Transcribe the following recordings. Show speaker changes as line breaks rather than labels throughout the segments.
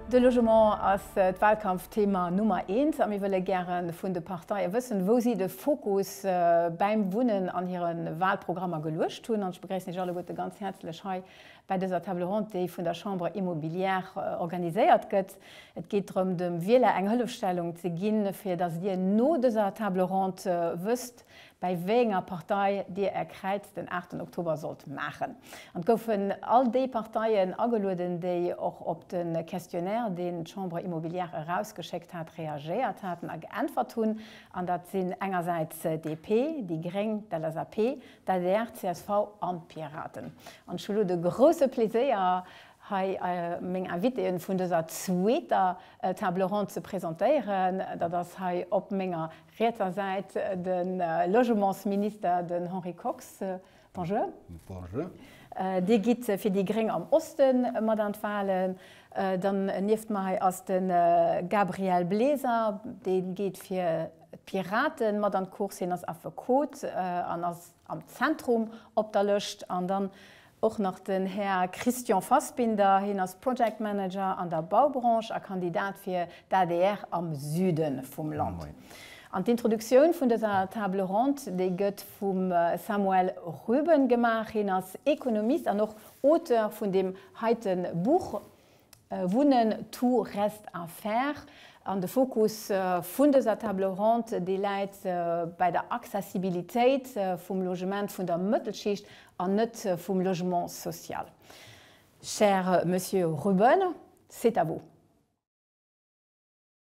De Logement ass d'Wahlkampfthema Nummer eent a mir wëlle gäre vun de Parteie wëssen, wou si de Fokus bäim Wunnen an hire Wahlprogrammer geluecht hunn. An ech begréissen Iech alleguerte ganz häerzlech hei Bei dëser Table ronde, déi vun der Chambre Immobilière organiséiert gëtt, et geet drëm dem Wieler eng Hëllefstellung ze ginn, fir datt Dir no dëser Table ronde wësst, bäi wéi enger Partei Dir Är Kräiz den 8 Oktober sollt maachen. An et goufen all déi Parteien agelueden, déi och op de Questionnaire, deen d'Chambre Immobilière erausgeschéckt hat, reagéiert haten a geäntwert hunn. An dat sinn engersäits d'DP, déi Gréng, d'LSAP, d'ADR, csv an d'Piraten. An ech hu lo de grouse Pleséier, hei meng Invitéen vun dëser zweeter Table ronde ze presentéieren. Dat ass hei op menger rietser Säit de Logementsminister, den Henri Kox. Bonjour. Bonjour. Dir gitt fir déi gréng am Oste mat an d'Wahlen. Dann nieft mer hei ass de Gabriel Bleser, dee geet fir D'Piraten mat an d'Course, hien ass Affekot an ass am Zentrum op der Lëscht. An dann och nach den Här Christian Fassbinder, hien ass Project Manager an der Baubranche a Kandidat fir d'ADR am Süde vum Land. An d'Introduktioun vun dëser Table ronde, déi gëtt vum Samuel Rüben gemaach, hien ass Ekonomist an och Auteur vun deem heite Buch. Wunnen, tout reste à faire. An de Fokus vun dëser Table ronde, dee läit bäi der Accessibilitéit vum Logement vun der Mëttelschicht an net vum Logement social. Cher Monsieur Ruben, c'est à vous.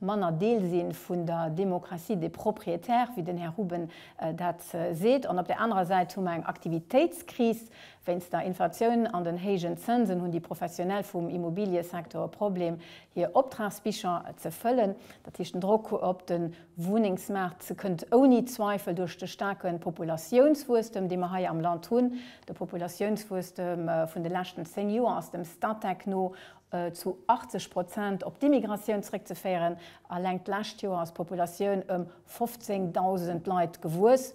manner Deel si vun der Démocratie des propriétaires, wéi den Här Ruben dat seet, an op där anerer Säit hu mer eng Aktivitéitskris. Wéinst der Inflatioun an den héijen Zënsen hunn déi Professionell vum Immobiliësecteur e Problem, hir Optragsbicher ze fëllen. Dat heescht, den Drock op de Wunnengs-maart kënnt ouni Zweifel duerch de staarke Populatiounswuesstem, dee mer hei am Land hunn. De Populatiounswuesstem vun de leschten zéng Joer ass dem Statec no zu 80 Prozent op d'Immigratioun zréckzeféieren. Alleng d'lescht Joer ass d'Populatioun ëm 15.000 Leit gewuess.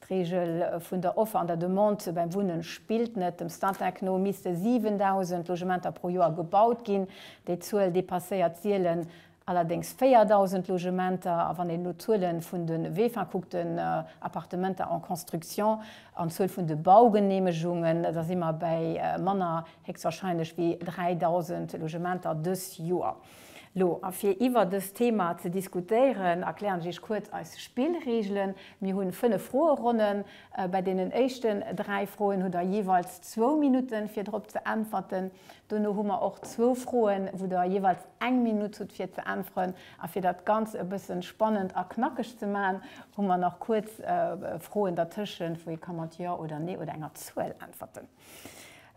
D'Reegel vun der Offer an der Demande beim Wunnen spillt net. Dem Statec no misste 7.000 Logementer pro Joer gebaut ginn. Déi Zuel depasséiert sielen Allerdéngs 4.000 Logementer, a wann een elo d'Zuele vun de WEFA kuckt, den Appartementer en construction, an d'Zuel vun de Baugeneemegungen, da si mer bäi manner héchstwahrscheinlech wéi 3.000 Logementer dës Joer. Lo, a fir iwwer dëst Thema ze diskutéieren, erklären ech Iech kuerz eis Spillregelen. Mir hu fënnef Froeronnen. Bei deenen éischten dräi Froen hutt Der jeeweils zwou Minutten, fir drop ze äntwerten. Dono hu mer och zwou Froen, wou Der jeeweils eng Minutt hutt fir ze äntweren. A fir dat Ganz e bëssen spannend a knackeg ze maachen, hu mer nach kuerz Froen dertëschent, wou ee ka mat Jo oder Nee oder enger Zuel äntwerten.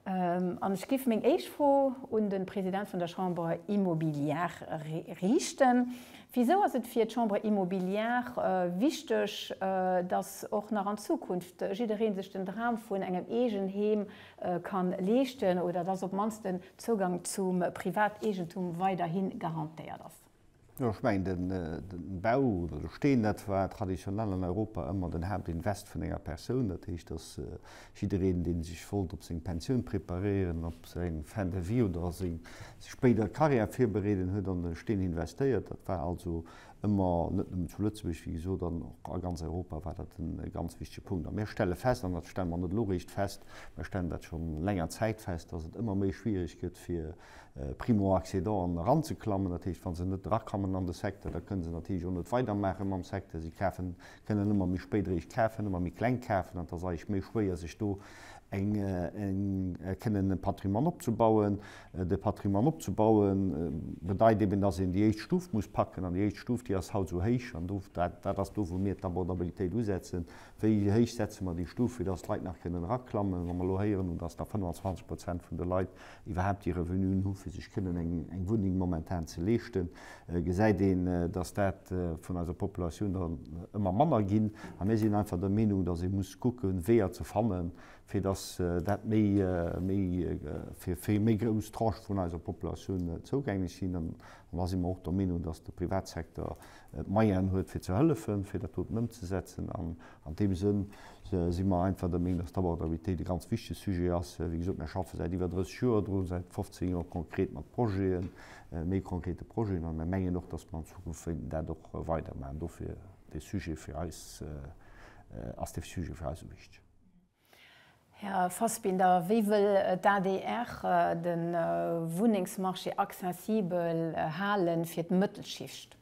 An ech giff meng éischt Fro un den President vun der Chambre immobilière riichten. Wisou ass et fir d'Chambre immobilière wichteg, dass och nach an Zukunft jiddereen sech den Dram vun engem Eegenheem kann leeschten oder dass op d'mannst den Zougang zum Privateegentum weiderhi garantéiert ass. Jo, ech mengen, den Bau oder de Steen, dat war traditionell an Europa ëmmer den Haaptinvest vun enger Persoun. Dat heescht, dass jiddereen, dee sech wollt op seng Pensioun preparéieren, op seng Fin de vie oder seng spéider Carrière virbereeden, huet an de Steen investéiert. Dat war also ëmmer, net nëmmen zu Lëtzebuerg, wéi gesot, an och a ganz Europa war dat e ganz wichtege Punkt. A mir stelle fest, an dat stelle mer net elo réischt fest, mir stellen dat scho länger Zäit fest, dass et ëmmer méi schwierig gëtt fir Primo-Accédanten eranzeklammen. Dat heescht, wa se net erakommen an de Secteur, da kënne se natierlech och net weidermaache mam Secteur. Si kafen Déi kënnen ëmmer méi spéit eréischt kafen, ëmmer méi kleng kafen an et ass eréischt méi schwéier, sech do eng kënnen e Patrimoine opzebauen. De Patrimoine opzebaue bedeit eben, datt een déi éischt Stuf muss packen an déi éischt Stuf, déi ass haut esou héich an do, dat ass do, wou mir d'Abordabilitéit usetzen. Wéi héich setze mer déi Stuf, fir datt d'Leit nach kënnen eraklammen? Wa mer elo héieren hunn, datt nach 25 Prozent vun de Leit iwwerhaapt déi Revenuen hu fir sech kënnen eng Wunneng momentan ze leeschten, gesäit een, datt dat vun eiser Populatioun dann ëmmer manner ginn. A mir sinn einfach der Meenung, datt ee muss kucke Weeër ze fannen, fir datt dat méi fir eng méi grouss Tranche vun eiser Populatioun zougänglech sinn. An da si mer och der Meenung, datt de Privatsektor d'Moyenen huet fir ze hëllefen, fir dat doten ëmzesetzen. An an deem Sënn si mer einfach der Meenung, dass d'Abordabilitéit e ganz wichtege Sujet ass. Wéi gesot, mir schaffe säit iwwer 30 Joer dru, säit 15 Joer konkret mat Projeten, méi konkrete Projeten, a mir mengen och, dass mer an Zukunft wéilten dat och weidermaachen. Dofir dee Sujet fir eis, ass dee Sujet fir eis esou wichteg. Här Fassbinder, wéi wëll d'ADR de Wunnengsmarché accessibel hale fir d'Mëttelschicht?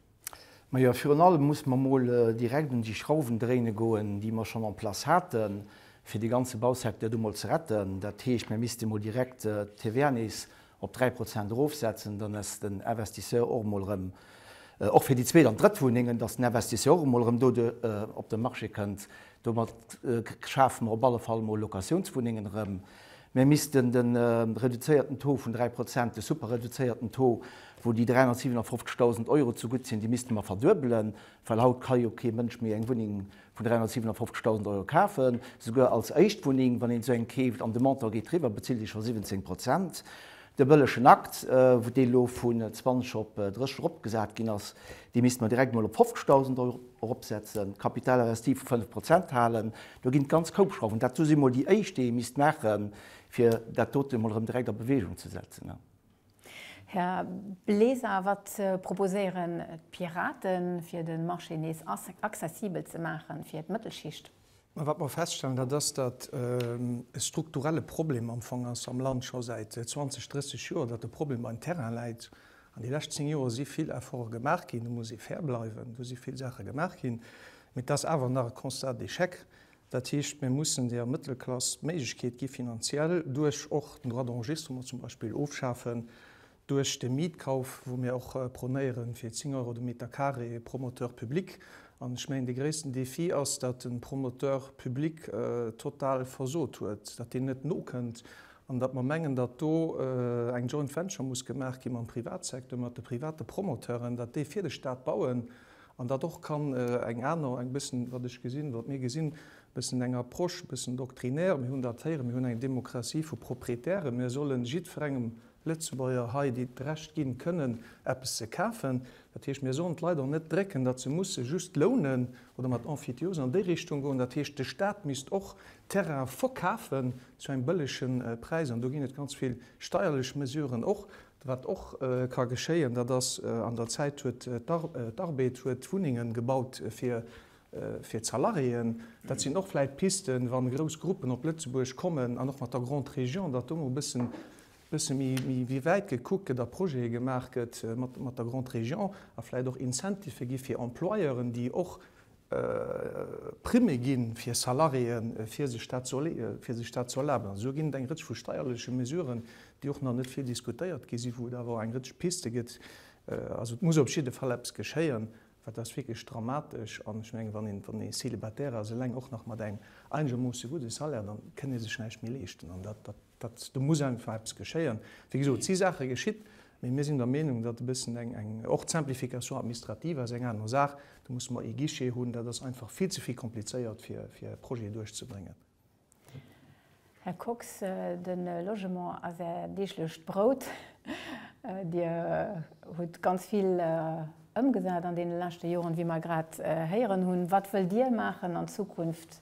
Majo, virun allem muss mer emol direkt un déi Schrauwen dréine goen, déi mer schonn en place haten, fir de ganze Bausecteur do emol ze retten. Dat heescht, mir misste emol direkt d'TVA nees op 3 Prozent erofsetzen, dann ass den Investisseur och emol erëm, och fir déi zweet an drëtt Wunnengen, dass den Investisseur och emol erëm do op de Marché kënnt. Domat schafe mer op alle Fall emol Locatiounswunnengen erëm. Mir missten de reduzéierten Taux vun 3 Prozent, de superreduzéierten Taux, wou déi 357.000 Euro zegutt sinn, dee misste mer verduebelen, well haut ka jo kee Mënsch méi eng Wunneng vun 357.000 Euro kafen, souguer als Éischtwunneng, wann een esou eng keeft, an de Montant geet driwwer, bezilt ee scho 17 Prozent. De bëllegen Akt, wou dee elo vun 20 op 30 eropgesat ginn ass, dee misste mer direkt emol op 50.000 Euro eropsetzen, d'Capital investie vu 5 Prozent halen. Do ginn et ganz koup Schrauwen. Dat do si mol déi éischt, déi ee misst maachen, fir dat dote mol erëm direkt a Bewegung ze setzen. Här Bleser, wat proposéieren d'Piraten, fir de Marché nees accessibel ze maachen fir d'Mëttelschicht? Wat mer feststellen, dat ass, datt e strukturelle Problem am Fong ass am Land, scho säit 20, 30 Joer, datt de Problem beim Terrain läit. An déi lescht zéng Joer si vill Efforte gemaach ginn, do muss ee fair bleiwen, do si vill Saache gemaach ginn, mee et ass awer nach e Constat d'échec, Dat heescht, mir mussen der Mëttelklass d'Méiglechkeet gi finanziell, duerch och den Droit d'enregistrement zum Beispill ofschafen, duerch de Mietkauf, wou mir och prônéieren, fir 10 Euro de Meter carré Promoteur public. An ech mengen, dee gréissten Défi ass, datt de Promoteur public total versot huet, datt deen net nokënnt an datt mer mengen, datt do eng Joint Venture muss gemaach gi mam Privatsecteur, mat de private Promoteuren, datt déi fir de Stat bauen An dat och kann eng aner, eng bëssen, wat ech gesinn, wat mir gesinn, bëssen eng Approche, bëssen doctrinaire, mir hunn dat héieren, mir hunn eng Demokratie vu Proprietären, mir solle jiddferengem Lëtzebuerger hei d'Recht ginn, kënnen eppes ze kafen. Dat heescht, mir sollen d'Leit och net drécken, datt se musse just lounen oder mat Emphytiose an déi Richtung goen. Dat heescht, de Stat misst och Terraine verkafen zu engem bëllegen Präis. An do ginn et ganz vill steierlech Mesuren och, Wat och ka geschéien, dat ass, an der Zäit huet d'Arbed huet Wunnengen gebaut fir fir d'Salariéen. Dat sinn och vläit Pisten, wann grouss Gruppen op Lëtzebuerg kommen an och mat der Grande Région, datt do mol bëssen bësse méi méi méi wäit gekuckt gëtt a Projete gemaach gëtt mat mat der Grande Région a vläit och Incentife gi fir Employeuren, déi och Primme ginn, fir Salariéen, fir sech dat ze leeën, fir sech dat ze erlaben. Esou ginn et eng Rëtsch vu steierleche Mesuren, déi och nach net vill diskutéiert gi sinn, wou et awer eng Rëtsch Piste gëtt. Also et muss op jidde Fall eppes geschéien, well et ass wierklech dramatesch. An ech menge wann ee Célibataire ass, eleng och nach mat engem einegermoosse gudde Salaire, da kënn ee sech näischt méi leeschten. Dat, do muss einfach eppes geschéien. Wéi gesot, et si Saache geschitt, mee mir sinn der Meenung, datt e bëssen eng, eng, och d'Simplification administrative ass eng aner Saach, do musse mer ee Guichet hunn, dat ass einfach vill ze vill komplizéiert, fir, fir e Projet duerchzebréngen. Här Kox, de Logement ass Är deeglecht Brout. Dir hutt ganz vill ëmgesat an deene leschte Joren, wéi mer grad héieren hunn. Wat wëllt Dir maachen an Zukunft,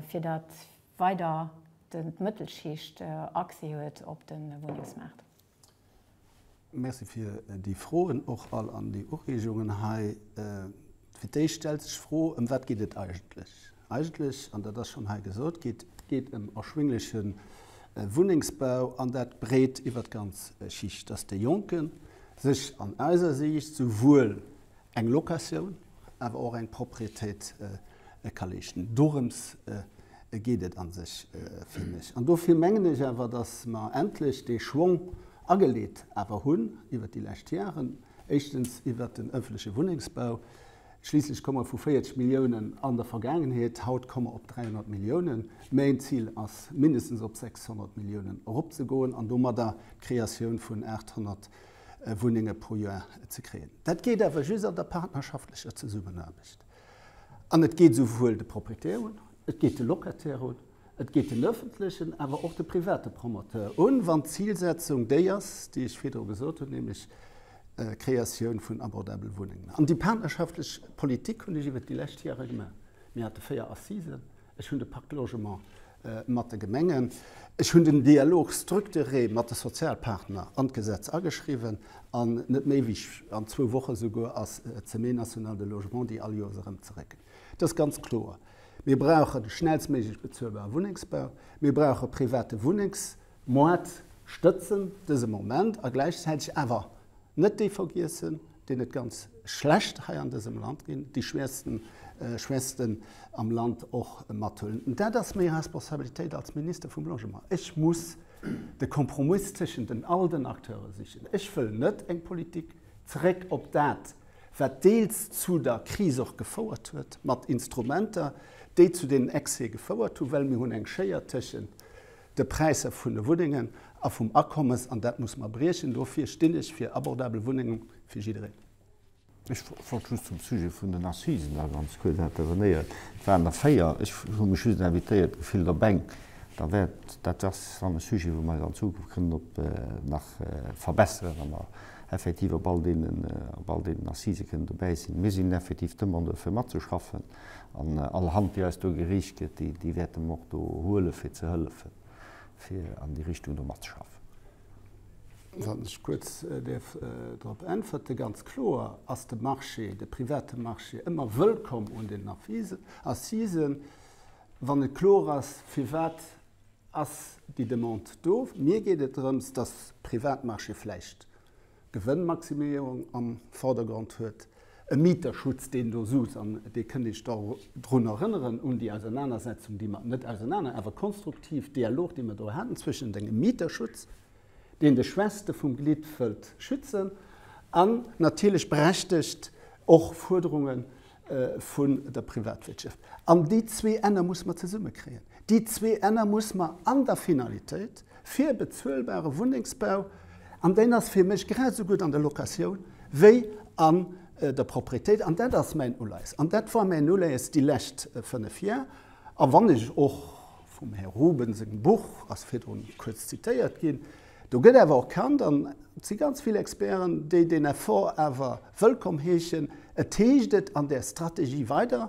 fir datt weider d'Mëttelschicht Accès huet op de Wunnengsmaart. Merci fir déi Froen och all an déi Ureegungen hei. Fir d'éischt stellt sech d'Fro, ëm wat geet et eigentlech? Eigentlech, an dat ass schonn hei gesot gi, et geet ëm erschwingleche Wunnengsbau, an dat breet iwwert d'ganz Schicht, dass de Jonke sech an eiser Siicht souwuel Eng Locatioun, awer och eng Proprietéit ka leeschten. Dorëms geet et a sech fir mech. An dofir mengen ech awer, datt mer endlech dee Schwong ageleet awer hunn iwwert déi lescht Jaren, éischtens iwwert den ëffentleche Wunnengsbau, schliisslech komme mer vu 40 Milliounen an der Vergaangenheet, haut komme mer op 300 Milliounen, mäin Zil ass, mindestens op 600 Milliounen eropzegoen an domadder d'Kreatioun vun 800 Wunnenge pro Joer ze kréien. Dat geet awer just an der partnerschaftlecher Zesummenaarbecht. An et geet esouwuel de Proprietär un, et geet de Locataire un, et geet den öffentlechen, awer och de private Promoteur un, wann d'Zilsetzung déi ass, déi ech virdru gesot hunn, nämlech d'Kreatioun vun abordabele Wunnengen. An déi partnerschaftlich Politik hunn ech iwwert déi lescht Jahre gemaach. Mir hate véier Assisen. Ech hunn de Parc Logement mat de Gemengen. Ech hunn den Dialogue structuré mat de Sozialpartner an d'Gesetz ageschriwwen an net méi wéi an zwou Woche souguer ass d'Semaine nationale de logement, déi all Joers erëm zeréckkënnt. Et ass ganz kloer, Mir brauchen schnellstméiglech bezuelbare Wunnengsbau, mir brauche private Wunnengsmoart stëtzen dëse Moment a gläichzäiteg awer, Net déi vergiessen, deenen et ganz schlecht hei an dësem Land geet, déi Schwächsten am Land och mathuelen. Dat ass meng Responsabilitéit als Minister vum Logement. Ech muss de Kompromiss tëschent den all den Acteure sichen. Ech wëll net eng Politik, zeréck op dat, wat deels zu der Kris och gefouert huet, mat Instrumenter, déi zu deenen Excès gefouert hunn, well mir hunn eng Schéier tëschent de Präisser vun de Wunnengen a vum Akommes, an dat muss mer briechen. Dofir stinn ech fir abordabel Wunnenge fir jiddereen. Ech wollt just zum Sujet vun den Assisen da ganz kuerz intervenéieren. Et waren der véier. Ech hu mech just invitéiert gefillt op eng. Da wäert, dat ass dann e Sujet, wou mer an Zukunft kënnen op nach verbesseren, wa mer effektiv op all deenen, op all deenen Assise kënnen dobäi sinn. Mir sinn effektiv d'Demandeur fir matzeschaffen. An all Hand, déi eis do gereecht gëtt, déi, déi wäerte mer och do huelen, fir ze hëllefen, fir an déi Richtung do matzeschaffen. Wann ech kuerz däerf drop äntwerte, Ganz kloer ass de Marché, de private Marché ëmmer wëllkomm un den Avisen, Assisen, wann net kloer ass, firwat ass déi Demande do. Mir geet et drëms, dass Privatmarché vläicht Gewënnmaximéierung am Vordergrond huet, e Mieterschutz, deen do sus, an dee kënnt ee sech da drun erënneren, un déi Ausernanersetzung, déi mer, net ausenaner, awer konstruktiv, Dialog, dee mer do haten zwëschen dengem Mieterschutz, deen de Schwächste vum Glied wëllt schützen, an natierlech berechtegt och Fuerderungen, vun der Privatwirtschaft. An déi zwee Enner muss mer zesummekréien. Déi zwee Enner muss mer an der Finalitéit fir e bezuelbare Wunnengsbau, an deen ass fir mech grad esou gutt an der Locatioun wéi an der Proprietéit, an dat ass mäin Uleies an dat war mäin Uleies déi lescht fënnef Jar, a wann ech och vum Här Ruben sengem Buch, ass virdrun kuerz zitéiert ginn, Do gëtt awer och kannt, an et si ganz vill Experten, déi deen Effort awer wëllkomm heeschen, et heescht et an där Strategie weider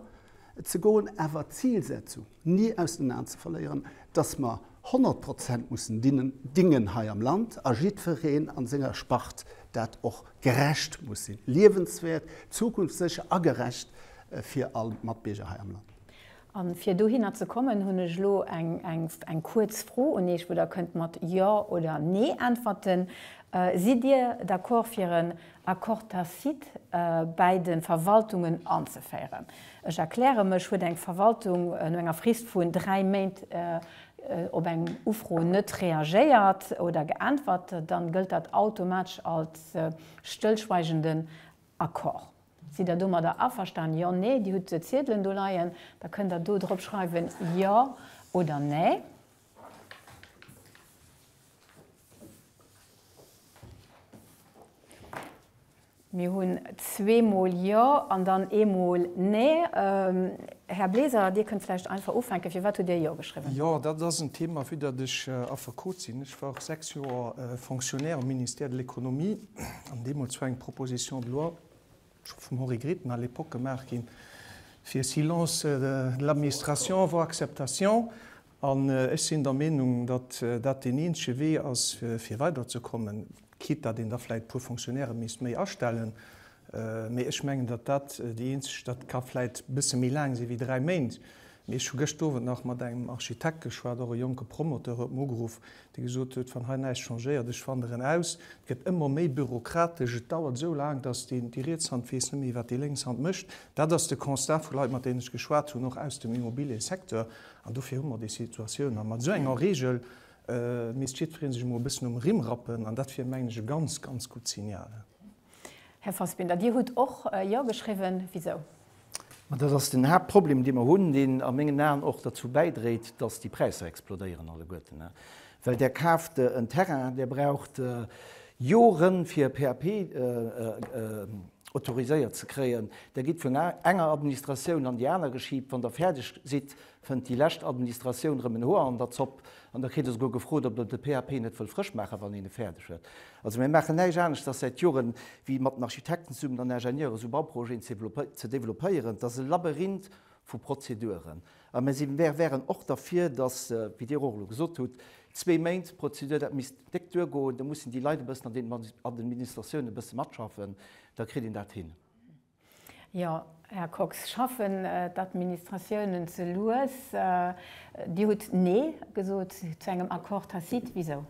ze goen, awer d'Zilsetzung ni aus den Aen ze verléieren, datt mer 100 Prozent mussen dingen hei am Land a jiddwereen an senger Spart dat och gerecht muss sinn, liewenswäert, zukunftssécher a gerecht fir all Matbierger hei am Land. An fir dohinner ze kommen, hunn ech elo eng, eng, eng kuerz Fro un Iech, wou Der kënnt mat Jo oder Nee äntwerten. Sidd Dir d'accord fir en Accord tacite bäi de Verwaltungen anzeféieren? Ech erkläre mech, Huet eng Verwaltung no enger Frist vun dräi Méint op eng Ufro net reagéiert oder geäntwert, dann gëllt dat automatesch als stëllschweigenden Accord. Sidd Der domadder averstanen? Jo, nee. Dir hutt Ziedelen do leien, da kënnt Der do drop schreiwen Jo oder Nee. Mir hunn zweemol Jo an dann eemol Nee. Här Bleser, Dir kënnt vläicht einfach ufänken. Firwat hutt Dir Jo geschriwwen? Jo, dat ass en Thema, vu datt ech Affekot sinn. Ech war och sechs Joer Fonctionnaire am Ministère de l'Économie. An deemools war eng Proposition de loi, scho vum Henri Gritton à l'époque, gemaach ginn, fir Silence de l'administration avant acceptation. An ech sinn der Meenung, datt dat deen eenzege Wee ass, fir weiderzekommen, quitte datt een da vläicht e puer Fonctionnairen misst méi astellen, Mee ech mengen, datt dat déi eenzeg, dat ka vläit e bësse méi laang si wéi dräi Méint, mee ech hu gëscht Owend nach mat engem Architekt geschwat, och e jonke Promoteur huet mer ugeruff, dee gesot huet, wann hei näischt changéiert, ech wanderen aus, et gëtt ëmmer méi bürokratesch, et dauert esou laang, datt deen, déi riets Hand weess net méi, wat déi lénks Hand mécht. Dat ass de Constat vu Leit, mat deenen ech geschwat hunn, och aus dem Immobiliësecteur. An dofir hu mer déi Situatioun. A mat esou enger Regel misst jiddweree sech emol e bëssen um Rimm rappen. An dat wier, mengen ech, e ganz, ganz gutt Signal. Här Fassbinder, Dir hutt och Jo geschriwwen. Wisou? Ma dat ass den Haaptproblem, dee mer hunn, deen a mengen Aen och derzou bäidréit, datt déi Präisser explodéieren alleguerten. Well Der kaaft en Terrain, Der braucht Joren, fir e PAP autoriséiert ze kréien. Der gitt vun enger Administratioun an déi aner geschiibt. Wann Der fäerdeg sidd, Fënnt déi lescht Administratioun rëm en Hoer an der Zopp. An da kritt Der souguer gefrot, ob Der de PAP net wëllt frësch maachen, wann een e fäerdeg huet. Also mir maachen näischt anescht a säit Jore wéi mat den Architekten zesummen an Ingenieuren esou Bauprojeten ze développéieren. Et ass e Labyrinth vu Prozeduren. A mir si, mir wären och derfir, datt, wéi Dir och elo gesot hutt, zwee Méint d'Prozedur, dat misst déck duergoen. Do mussen déi Leit e bëssen an den Administratiounen e bësse matschaffen, da kritt een dat hin. Jo, Här Kox, schaffen d'Administratiounen ze lues? Dir hutt Nee gesot zu engem Accord tacite. Wisou?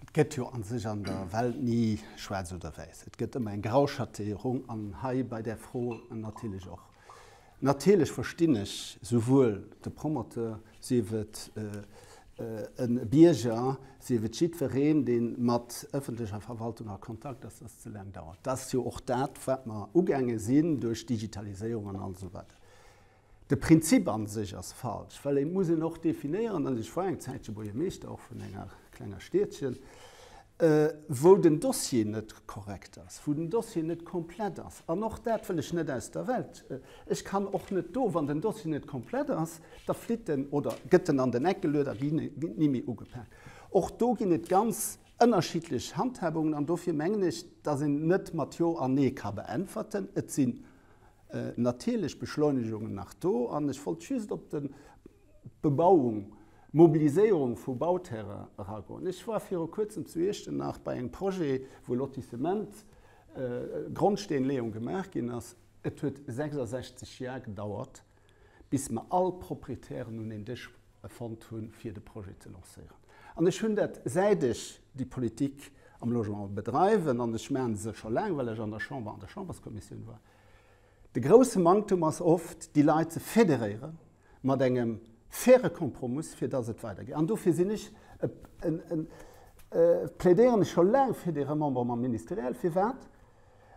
Et gëtt jo a sech an der Welt ni schwaarz oder wäiss. Et gëtt ëmmer eng Grauschatéierung, an hei bei där Fro natierlech och. Natierlech verstinn ech souwuel de Promoteur, sief et e Bierger, sief et jiddwereen, dee mat ëffentlecher Verwaltung a Kontakt ass, dass et ze laang dauert. Dat ass jo och dat, wat mer ugaange sinn duerch d'Digitaliséierung an all esou weider. De Prinzip a sech ass falsch, well et muss een och definéieren, an ech war eng Zäitche Buergermeeschter och vun enger klenger Stiedchen, wou den Dossier net korrekt ass, wou den Dossier net komplett ass. An och dat wëll ech net aus der Welt. Ech kann och net do, wann den Dossier net komplett ass, da flitt en oder gëtt en an den Eck geluet a ginn ni méi ugepak. Och do ginn et ganz ënnerschiddlech Handhabungen. An dofir mengen ech, datt een net mat Jo an Nee ka beäntwerten. Et sinn natierlech Beschleunegungen nach do. An ech wollt just op de. Bebauung, Mobiliséierung vu Bauterrain eragoen. Ech war viru kuerzem zu Iechternach bei engem Projet, wou Lotissement, Grondsteenleeung gemaach ginn ass. Et huet 66 Jar gedauert, bis mer all Proprietären un een Dësch fonnt hunn, fir de Projet ze lancéieren. An ech hunn dat, säit ech déi Politik am Logement bedreiwen, an ech maachen se scho laang, well ech an der Chamber an der Chamberskommissioun war, de grousse Manktem ass oft, déi Leit ze federéieren, mat engem faire Kompromiss, fir dass et weidergeet. An dofir sinn ech e, e, e, plädéieren ech scho laang fir dee Remembrement ministériel. Firwat?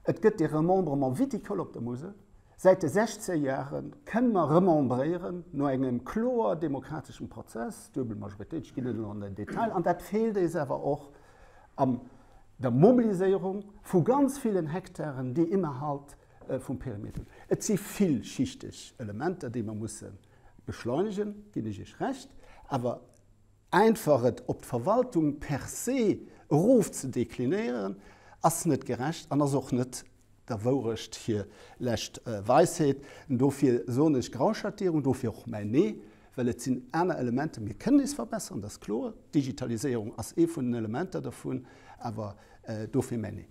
Et gëtt dee Remembrement viticole op der Musel. Säit de 16 Jahre kënne mer remembréieren, no engem kloer demokrateschem Prozess, duebel Majoritéit, ech ginn net elo an den Detail, an dat feelt eis awer och an der Mobiliséierung vu ganz villen Hektaren, déi innerhalb vum Perimeter. Et si villschichteg Elementer, déi mer musse beschleunegen, ginn ech Iech Recht, awer einfach et op d'Verwaltung per se erof ze deklinéieren, ass net gerecht an ass och net der Wourecht hir lescht Weisheet. Dofir soen ech Grauschattierung, dofir och mäin Nee, well et sinn aner Elementer. Mir kënnen eis verbessern, dat ass kloer, d'Digitaliséierung ass ee vun den Elementer dervun, awer dofir mäin Nee.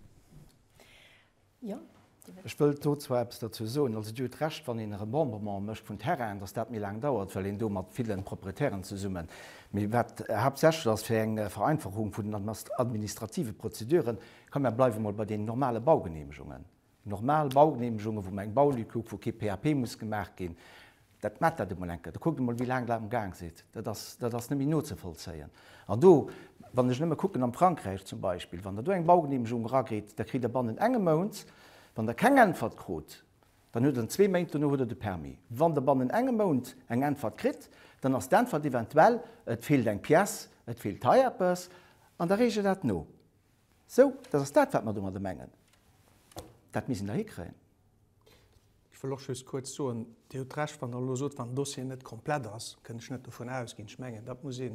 Ech wëllt do zwar eppes dozou soen. Also, Dir hutt Recht, wann een e Remembrement mécht vun Terrainen, dass dat méi laang dauert, well een do mat ville Proprietären zesummen, mee wat haaptsächlech ass fir eng Vereinfachung vun den administrative Prozeduren, komm mer bleiwe mol bei deenen normale Baugenehmegungen, normal Baugenehmegungen, wou mer eng Baulücke hu wou kee PAP muss gemaach ginn, Dat maacht dat emol eng Kéier. Da kuckt emol, wéi laang dat am Gaang sidd. Dat ass, dat ass net méi nozevollzéien. An do, wann ech nëmme kucken am Frankräich zum Beispill, wann Der do eng Baugeneemegung eragritt, da kritt Der bannen engem Mount, wann Der keng Äntwert krut, dann huet Der en zwee Méint, dono huet Der de Permis. Wann Der bannen engem Mount eng Äntwert kritt, dann ass d'Äntwert eventuell, et feelt eng Pièce, et feelt hei eppes, an da reegt Der dat no. Sou, dat ass dat, wat mer domadder mengen. Dat misst een da hikréien. Ech wëll och just kuerz soen, Dir hutt Recht, wann Der elo sot, wann den Dossier net komplett ass, kënn ech net dovun ausginn. Ech mengen, dat muss een,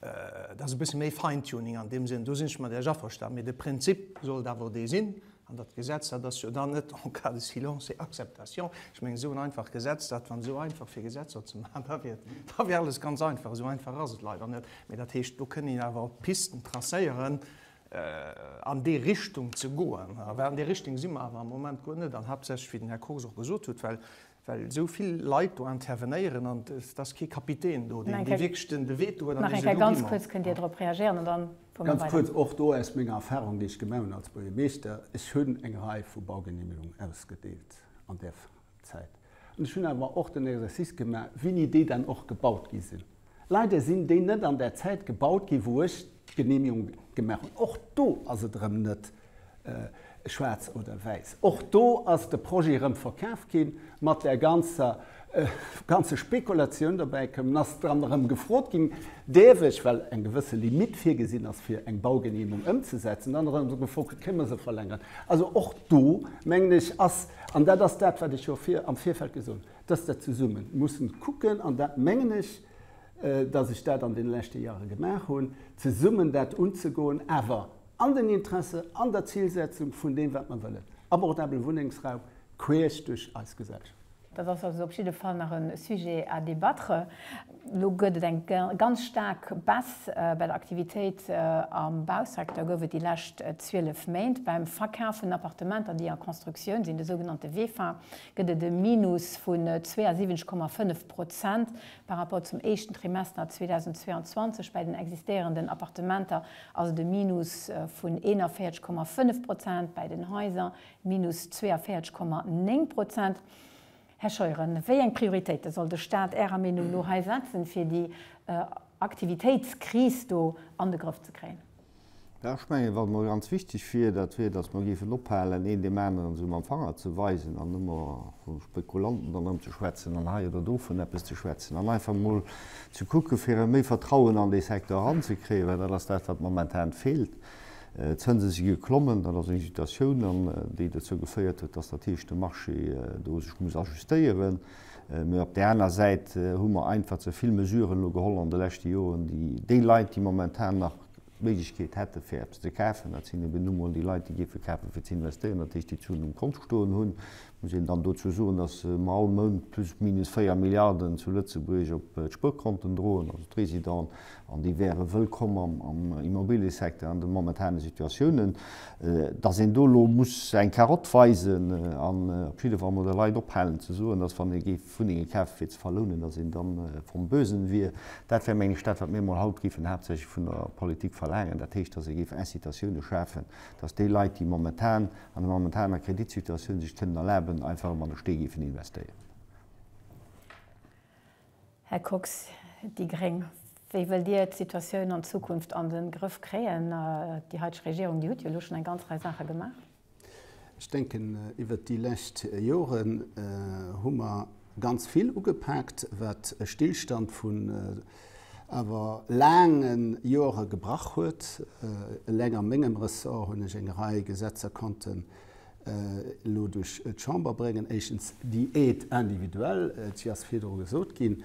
dat ass e bësse méi Fine-Tuning an deem Sënn, do sinn ech mat Iech averstanen. Mee de Prinzip sollt awer dee sinn. An dat Gesetz, dat ass jo dann net en cas de silence et acceptation. Ech mengen, esou en einfacht Gesetz, dat wann esou einfach fir Gesetzer ze maachen, da wier, da wier alles ganz einfach. Esou einfach ass et leider net. Mee dat heescht, do kënn een awer Pisten tracéieren, an déi Richtung ze goen, well an där Richtung si mer awer am Moment guer net an, haaptsächlech, wéi den Här Kox och gesot huet, well esou vill Leit do intervenéieren an et ass kee Kapitän do, deen wierklech de Veto huet an dee seet, Lo gi mer. Ganz kuerz, och do aus menger Erfahrung, déi ech gemaach hunn als Buergermeeschter, Ech hunn eng Rei vu Baugenehmigungen ausgedeelt an där. Zäit. An ech hunn awer och den Exercice gemaach, wéini déi dann och gebaut gi sinn. Leider sinn déi net an der Zäit gebaut ginn, wou ech d'Genehmigung gemaach hunn. Och do ass et erëm net schwaarz oder wäiss. Och do ass de Projet erëm verkaf ginn, mat där ganzer ganze Spekulatioun dobäi komm. Dann ass dann erëm gefrot ginn, Däerf ech, well eng gewësse Limitt virgesinn ass, fir eng Baugenehmung ëmzesetzen, dann erëm gefrot ginn, Kéint mer se verlängeren? Also och do, mengen ech, ass. An dat ass dat, wat ech jo am Virfeld gesot hunn, dass der zesumme musse kucken, an dat mengen ech, dass ech dat an deene leschte Jahre gemaach hunn, zesummen dat unzegoen, awer an den Interesse, an der Zilsetzung vun deem, wat mer wëllen, abordabele Wunnengsraum queesch duerch eis Gesellschaft. Dat ass also op jidde Fall nach e Sujet à débattre. Elo gëtt et eng ganz staark Baisse bei der Aktivitéit am Bausecteur, gouf et déi lescht 12 Méint. Beim Verkaf vun Appartementer, déi a Constructioun sinn, de sougenannte VEFA, gëtt et e Minus vun 72,5 Prozent par rapport zum éischten Trimester 2022. Bei den existéierenden Appartementer ass et e Minus vun 41,5 Prozent, bei den Haiser minus 42,9 Prozent. Här Scheuren, wéi eng Prioritéite soll de Stat Ärer Meenung no hei setzen, fir déi Aktivitéitskris do an de Grëff ze kréien? Jo, ech mengen, wat emol ganz wichteg wier, dat wier, dass mer géifen ophalen, een deem aneren esou mam Fanger ze weisen an ëmmer vu Spekulanten dann erëm ze schwätzen an hei oder do vun eppes ze schwätzen an einfach emol ze kucken, fir erëm méi Vertrauen an dee Secteur eranzekréien, well dat ass dat, wat momentan feelt. D'Zënse si geklommen, dat ass eng Situatioun an déi dozou geféiert huet, datt dat heescht de Marché do sech muss ajustéieren. Mä op där aner Säit hu mer einfach ze vill Mesuren elo geholl an de leschte Joren, déi déi Leit, déi momentan nach d'Méiglechkeet hätte fir eppes ze kafen, dat sinn eben nu mol déi Leit, déi géife kafe fir ze investéieren, dat heescht déi d'Suen um Kont stoen hunn, Muss een dann dozou soen, dass mer all Mount plus minus 4 Milliarden zu Lëtzebuerg op d'Spuerkonten droen, also d'Résidenten, an déi wäre wëllkomm am Immobiliësecteur an de momentane Situatiounen. Dass een do elo muss eng Karotte weisen an op jidde Fall mol de Leit ophalen ze soen, dass wann ee géif Wunnenge kafe fir ze verlounen, dass een da vom Bösen wier, dat wär, meng ech, dat wat mir mol haut géifen haaptsächlech vun der Politik verlaangen, dat heescht, dass ee géif Incitatiounen schafen, dass déi Leit, déi momentan an der momentaner Kreditsituatioun sech kënnen erlaben, einfach ëmmer an de Stee géifen investéieren. Här Kox, déi gréng, Wéi wëllt Dir d'Situatioun an Zukunft an de Grëff kréien? Déi heiteg Regierung, déi huet jo elo schonn eng ganz Rei Saache gemaach. Ech denken, iwwert déi lescht Joren hu mer Ganz vill ugepaakt, wat e Stillstand vun awer laange Joere gebrach huet. Eleng a mengem Ressort hunn ech eng Rei Gesetzer konnten elo duerch d'Chamber bréngen. Éischtens déi Aide individuelle, si ass virdru gesot ginn.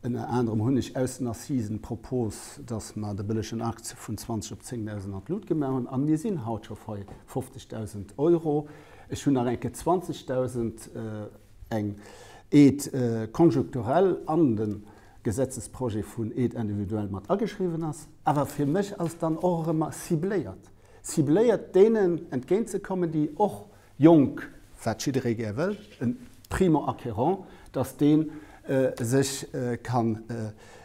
Ënner anerem hunn ech aus den Assisen d'Propos, dass mer de bëllegen Akt vun 20 op 10.000 an d'Lut gemaach hunn. A mir sinn haut scho bei 50.000 Euro. Ech hunn nach eng Kéier 20.000. eng Aide conjecturelle an de Gesetzesprojet vun Aide individuelle mat ageschriwwen ass. Awer fir mech ass dann och erëm mer cibléiert, cibléiert deenen entgéintzekommen, déi och jonk, wat jidderee gär wëll, e Primo-acquérant, dass dee sech kann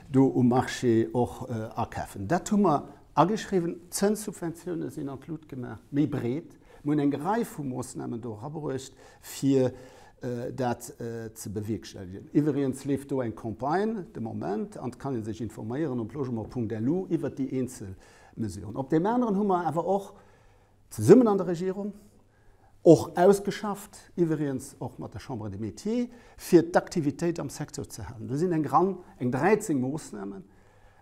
do um Marché och akäfen. Dat hu mer ageschriwwen. D'Zënssubventiounen sinn an d'Lut gemaach, méi breet. Mir hunn eng Rei vu Moossnamen do erabruecht, fir dat ze bewierkstellegen. Iwwregens leeft do eng Campagne de Moment, an et kann ee sech informéieren op logement.lu iwwert déi eenzel Mesuren. Op deem aneren hu mer awer och zesummen an der Regierung, och ausgeschafft, iwwregens och mat der Chambre des Métiers, fir d'Aktivitéit am Secteur ze halen. Do sinn eng Rang, eng 13 Moossnamen,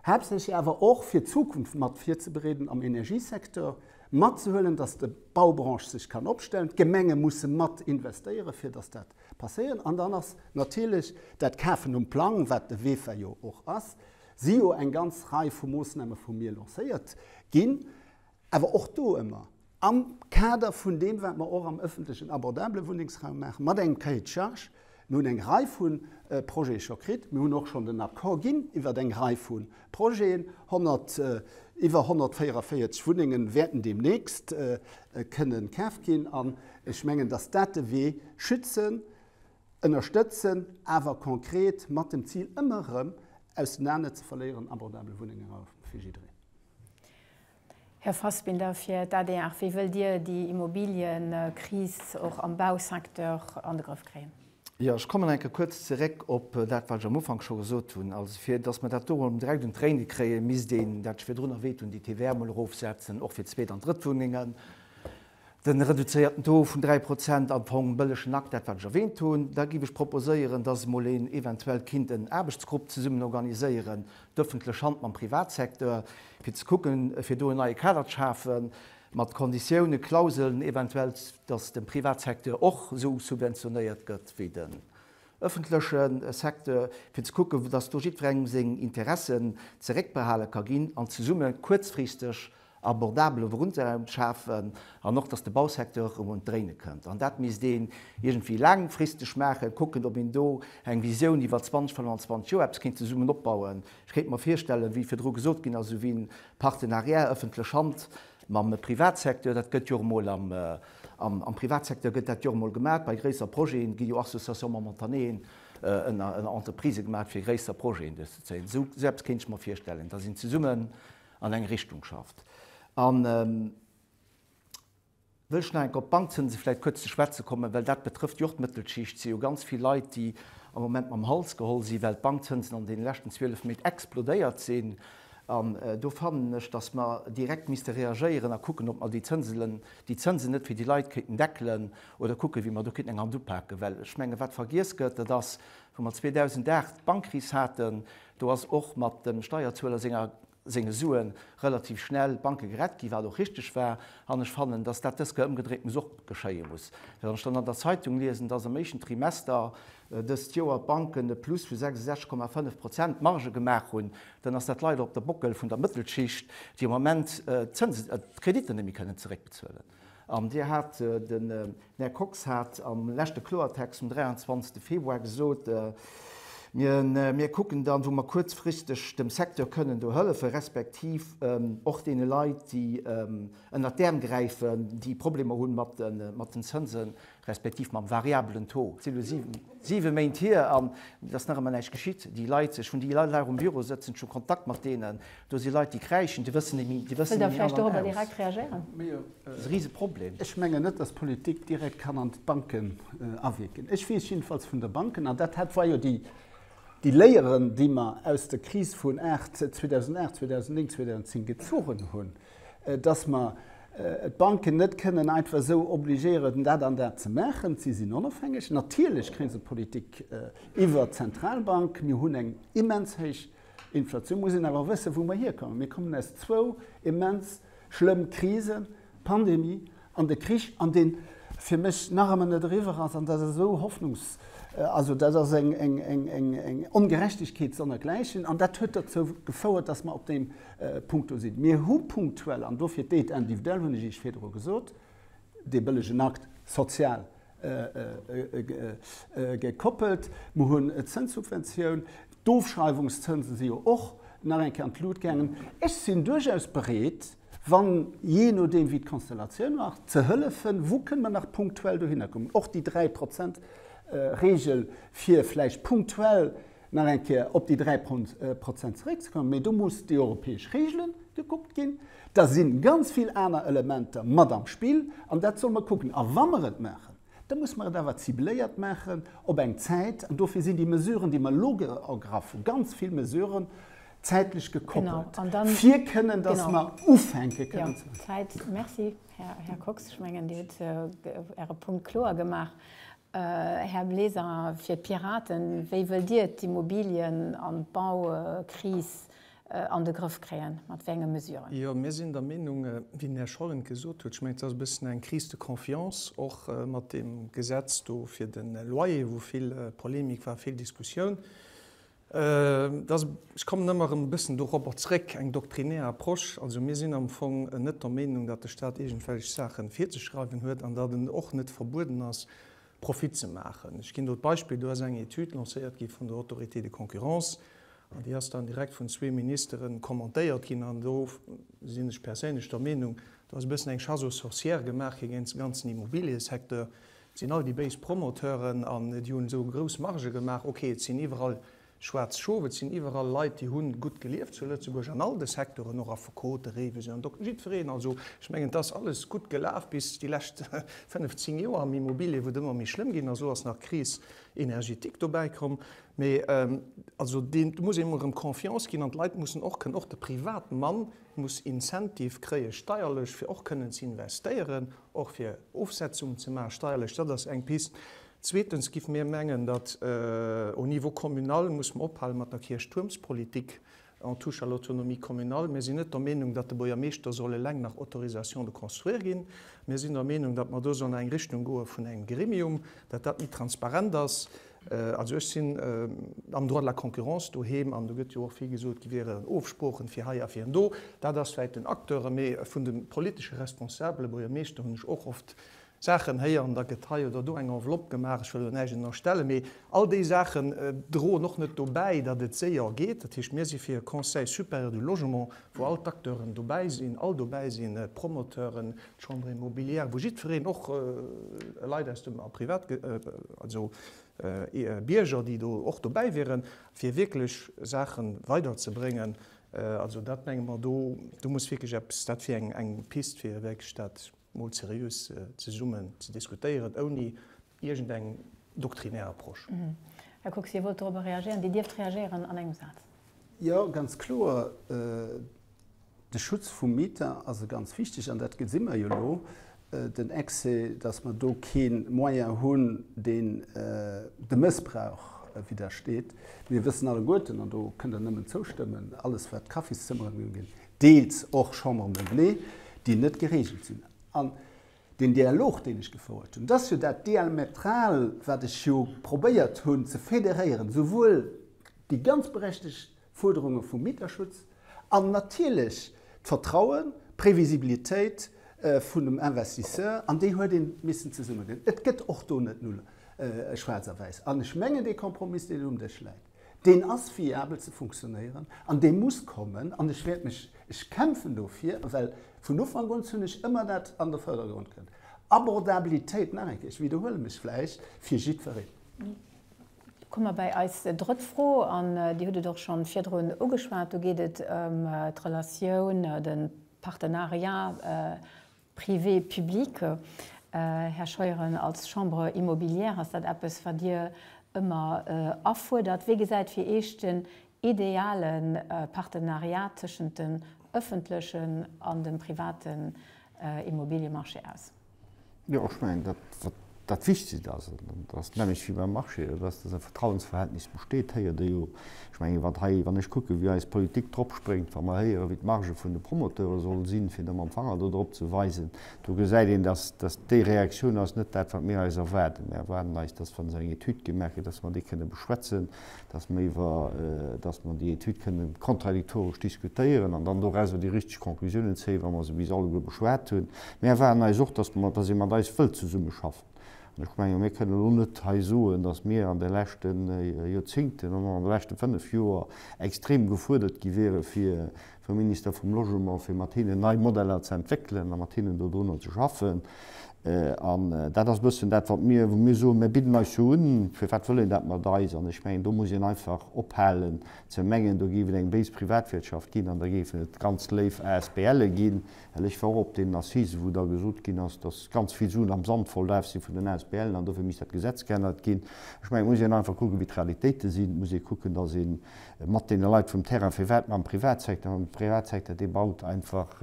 Haaptsächlech awer och fir d'Zukunft mat virzebereeden am Energiesecteur, matzehuelen, dass de Baubranche sech kann opstellen, d'Gemenge musse mat investéieren, fir dass dat passéieren. An dann ass natierlech dat Kafen um Plang, wat de Wefa jo och ass, si jo eng ganz Rei vu Moosname vu mir lancéiert ginn. Awer och do ëmmer am Kader vun deem, wat mer och am öffentlechen, abordabele Wunnengsraum maachen, mat engem Cahier de charges. Mir hunn eng Rei vu Projete scho kritt. Mir hunn och schonn den Accord ginn iwwert eng Rei vu Projeten. Iwwer 144 Wunnenge wäerten deemnächst kënne kaaft ginn. An ech mengen, dass dat de Wee, schützen, ënnerstëtzen, awer konkret mat dem Zil, ëmmer erëm, ausenaner ze verléieren, abordabel Wunnengen fir jiddereen. Här Fassbinder, fir d'ADR, wéi wëllt Dir déi Immobilienkris och am Bausecteur an de Grëff kréien? Jo, ech kommen nach eng Kéier kuerz zeréck op dat, wat ech am Ufank scho gesot hunn. Also fir datt mer dat do emol direkt un d'Tréine kréien, misst een, dat virun der Weetung, déi TVA emol erofsetzen, och fir d'Zweet an d'Drëttwunnengen. den reduzéierten Taux vun 3 Prozent am Fong bëllegen Akt, dat wat ech erwähnt hunn. Da géif ech proposéieren, dass emol een eventuell kinnt en Aarbechtsgrupp zesummen organiséieren, d'öffentlech Hand mam Privatsecteur, fir ze kucken, fir do en neie Kader ze schafen, mat Konditiounen, Klauseln eventuell, dass de Privatsecteur och esou subventionéiert gëtt wéi den öffentleche Secteur, fir ze kucken, dass do jiddwerengem seng Interessen zeréckbehale ka ginn an zesumme kuerzfristeg abordabele Wunnraum schafen an och, datt de Bausecteur erëm un d'Dréine kënnt. An dat misst een iergendwéi laangfristeg maachen, kucken, ob een do eng Visioun iwwer 20, 25 Joer eppes kéint zesummen opbauen. Ech kéint mer virstellen, wéi virdru gesot ginn ass, esouwéi e Partenariat ëffentlech Hand mam Privatsecteur, dat gëtt jo och emol am Privatsecteur gëtt dat jo och emol gemaach, bei gréisser Projete gi jo Associations momentanéen ënner Entreprisë gemaach, fir gréisser Projeten duerchzezéien. Esou eppes kéint ech mer virstellen, datt een zesummen an eng Richtung schafft. An wëll ech nach eng Kéier op d'Bankzënse vläicht kuerz ze schwätze kommen, well dat betrëfft jo och d'Mëttelschicht. Et si jo ganz vill Leit, déi am Moment mam Hals geholl sinn, well d'Bankzënsen an deene leschten 12 Méint explodéiert sinn. An do fannen ech, datt mer direkt misste reagéieren a kucken, ob mer déi Zënselen, déi Zënsen net fir déi Leit kéinten deckelen oder kucken, wéi mer do kéinten eng Hand upaken. Well ech mengen, wat vergiess gëtt, dat ass, wou mer 2008 d'Bankkris haten, Do ass och mat dem Steierzueler senger senge Sue relativ schnell d'Banke gerett ginn, wat och richteg war. An ech fannen, datt dat dës Kéier ëmgedréint muss och geschéie muss. Wann ech dann an der Zeitung liesen, datt am éischten Trimester dëst Joer d'Banken e Plus vu 66,5 Prozent Marge gemaach hunn, dann ass dat leider op de Bockel vun der Mëttelschicht, déi am Moment d'Kreditter net méi kënnen zeréckbezuelen. An Dir hat, den Här Kox hat am leschte Kloertext vum 23. Februar gesot, Mir kucken dann, wou mer kuerzfristeg dem Secteur kënnen do hëllefen, respektiv och deene Leit, déi ënnert d'Äerm gräifen, déi Problemer hu mat den Zënsen. respektiv mam variabelen Taux, si lo siwe Méint hier an et ass nach ëmmer näischt geschitt, déi Leit, ech hunn déi Leit nach um Büro sëtzen, ech hu Kontakt mat deenen, do si Leit, déi kräischen, déi wëssen et méi an an aus. Dat ass e Riseproblem. Ech mengen net, dass d'Politik direkt kann an d'Banken awierken. Ech weess jiddefalls vun de Banken, an dat hat war jo déi Léieren, déi mer aus der Kris vun 2008, 2009, 2010 gezogen hunn, dass mer d'Banken net kënnen einfach esou obligéieren, dat an dat ze maachen. Si sinn onofhängeg. Natierlech kréie se Politik iwwert d'Zentralbank. Mir hunn eng immens héich Inflatioun. Mir mussen awer wëssen, wou mer hierkommen. Mir kommen aus zwou immens schlëmm Krisen, Pandemie, an de Krich, an deen fir mech nach ëmmer net eriwwer ass, an dat ass esou hoffnungs-, also dat ass eng, eng, eng, eng, eng Ongerechtegkeet sonnergläichen, an dat huet dozou gefouert, dass mer op deem Punkt do sinn. Mir hu punktuell, an dofir d'Aide individuelle, hunn ech Iech virdru gesot, dee bëllegen Akt social gekoppelt, mer hunn d'Zënssubventioun, d'Ofschreiwungszënse si jo och nach eng Kéier an d'Lut gaangen. Ech sinn duerchaus bereet, wann, jee nodeem wéi d'Konstellatioun war, ze hëllefen, wou kënne mer nach punktuell dohinner kommen, och déi dräi Prozent Reegel, fir vläicht punktuell nach eng Kéier op déi dräi Prozent zeréckzekommen. Mee do muss déi europäesch Reegele gekuckt ginn, da si ganz vill aner Elementer mat am Spill an dat solle mer kucken. A wa mer et maachen, Da muss mer et awer cibléiert maachen op eng Zäit. An dofir sinn déi Mesuren, déi mer elo ergraffen, ganz vill Mesuren, zäitlech gekoppelt, fir kënnen, dass mer ufänke kënnen ze bezuelen. Merci, Här Kox. Ech mengen, Dir hutt Äre Punkt kloer gemaach. Här Bleser, fir d'Piraten, wéi wëllt Dir d'Immobilien an d'Baukris an de Grëff kréien, mat wéi enge Mesuren? Jo, mir sinn der Meenung, wéi den Här Schollen et gesot huet, ech mengen, et ass e bëssen eng Crise de confiance, och mat deem Gesetz do fir de Loyer, wou vill Polemik war, vill Diskussioun, dass, ech kommen ëmmer erëm e bëssen dorobber zrëck, eng doktrinär Approche. Also mir sinn am Fong net der Meenung, datt de Stat iergendwelch Saache virzeschreiwen huet an datt en och net verbueden ass, Profit ze maachen. Ech ginn do d'Beispill, do ass eng Etüd lancéiert gi vun der Autorité de concurrence, An déi ass dann direkt vun zwee Ministere kommentéiert ginn. An do sinn ech perséinlech der Meenung, do ass e bëssen eng Chasse aux sorcières gemaach gi géint de ganzen Immobiliësecteur. Et sinn all déi béis Promoteuren an déi hunn esou grouss Margë gemaach. Okay, et sinn iwwerall schwaarz Schof, et sinn iwwerall Leit, déi hu gutt gelieft zu Lëtzebuerg an all de Secteuren, och Affekote, Réiwesen an Dokter, jiddwereen. Also, ech mengen, et ass alles gutt gelaf bis déi lescht fënnef, zéng Joer am Immobilier, wou et ëmmer méi schlëmm ginn ass. Elo ass nach d'Crise énergétique dobäi komm. Mee also deen, do muss ee emol erëm Confiance ginn an d'Leit mussen och kënnen, och de Privatmann muss Incentive kréie steierlech, fir och kënnen ze investéieren, och fir Ofsetzungen ze maachen steierlech. Dat ass eng Pist. Zweetens géife mir mengen, datt au niveau communal muss mer ophale mat der Kierchtuermspolitik, En touche à l'autonomie communale. Mir sinn net der Meenung, datt de Buergermeeschter soll eleng nach Autorisation de construire ginn. Mir sinn der Meenung, datt mer do sollen an eng Richtung goe vun engem Gremium, datt dat méi transparent ass. Also ech sinn am Droit de la concurrence doheem an do gëtt jo och vill gesot, et wieren Ofsproochen fir hei a fir do. Dat ass vläicht den Acteure, mee vun de politesche Responsabele, Buergermeeschter, hunn ech och oft Saachen héieren, da gëtt hei oder do eng Enveloppe gemaach, ech wëll do näischt ënnerstellen, mee all déi Saachen droen och net dobäi, datt et séier geet. Dat heescht, mir si fir e Conseil supérieur du logement, wou all d'Acteuren dobäi sinn, all dobäi sinn, d'Promoteuren, d'Chambre immobilière, wou jiddwereen, och Leit aus dem Privat, also Bierger, déi do och dobäi wieren, fir wierklech Saache weiderzebréngen. Also dat menge mer, do muss wierklech eppes, dat wier eng Pist, fir wierklech dat. mol seriös zesummen ze diskutéieren, ouni iergendeng doktrinär Approche. Här Kox, Dir wollt dorobber reagéieren. Dir dierft reagéieren an engem Saz. Jo, ganz kloer, de Schutz vum Mieter ass e ganz wichteg, an dat gesi mer jo elo, den Excès, dass mer do kee Moyen hunn, deen dem Mëssbrauch widdersteet. Mir wëssen alleguerten, an do kënnt Der nëmmen zoustëmmen, alles wat Kaffiszëmmeren uginn, deels och Chambres meublées, déi net geregelt sinn. An deen Dialog, deen ech gefouert hunn, dass jo dat Diametral, wat ech jo probéiert hunn ze federéieren, souwuel déi ganz berechtigt Fuerderunge vum Mieterschutz an natierlech d'Vertrauen, d'Previsibilitéit vun dem Investisseur, an déi huet ee missen zesummedinn. Et gëtt och do net null schwaarz a wäiss. An ech mengen, dee Kompromiss, deen um Dësch läit, Deen ass viabel ze funktionéieren an dee muss kommen an ech wäert mech, ech kämpfen dofir, well vun Ufank un hunn ech ëmmer dat an de Vërdergrond gëtt, Abordabilitéit, nach eng Kéier, ech widderhuele mech vläicht, fir jiddwereen. Da komme mer bei eis drëtt Fro an Dir hutt et och scho virdrun ugeschwat, do geet et ëm d'Relatioun, de Partenariat, Privé-publique. Här Scheuren, als Chambre immobilière ass dat eppes, wat Dir ëmmer afuerdert. Wéi gesäit fir Iech den ideale Partenariat tëschent dem ëffentlechen an dem privaten Immobiliemarché aus? Jo, ech mengen dat, wat Dat Wichtegst ass, an dat ass d'Nämmlecht wéi beim Marché, dat ass, datt e Vertrauensverhältnis besteet, héiert ee jo. Ech mengen, wat hei, wann ech kucken, wéi eis Politik drop spréngt, wa mer héieren, wéi d'Marge vun de Promoteure soll sinn, fir da mam Fanger do drop ze weisen, do gesäit een, datt datt déi Reaktioun ass net dat, wat mir eis erwaarden. Mir erwaarden eis, datt, wa se eng Etüd gemaach gëtt, datt mer déi kënne beschwätzen, dass mer iwwer, dass mer déi Etüd kënne kontradiktoresch diskutéieren an dann dorauser déi richteg Conclusiounen zéien, wa mer se bis alleguer beschwat hunn. Mir erwaarden eis och, dass mer, dass ee mat eis wëllt zesummeschaffen. An ech menge mir kënnen elo net hei soen, dass mir an de leschte Joerzingten an an de leschte fënnf Joer extrem gefuerdert gi wiere fir vum Minister vum Logement, fir mat hinnen nei Modeller ze entwéckelen a mat hinnen dodrunner ze schaffen. An dat ass e bëssen dat, wat mir, wou mir soen, mir bidden eis jo un, firwat wëll een dat mat eis? An ech mengen, do muss een einfach ophalen ze mengen, do géif et eng béis Privatwirtschaft ginn an da géifen et ganz léif ASBLe ginn, well ech war och op deenen Assisen, wou da gesot ginn ass, datt ganz vill Suen am Sand verlaf si vun den ASBLen an dofir misst dat Gesetz geännert ginn. Ech mengen, et muss een einfach kucken, wéi d'Realitéite sinn. Et muss ee kucken, datt een mat deene Leit vum Terrain, firwat mam Privatsecteur, mam Privatsecteur, dee baut einfach,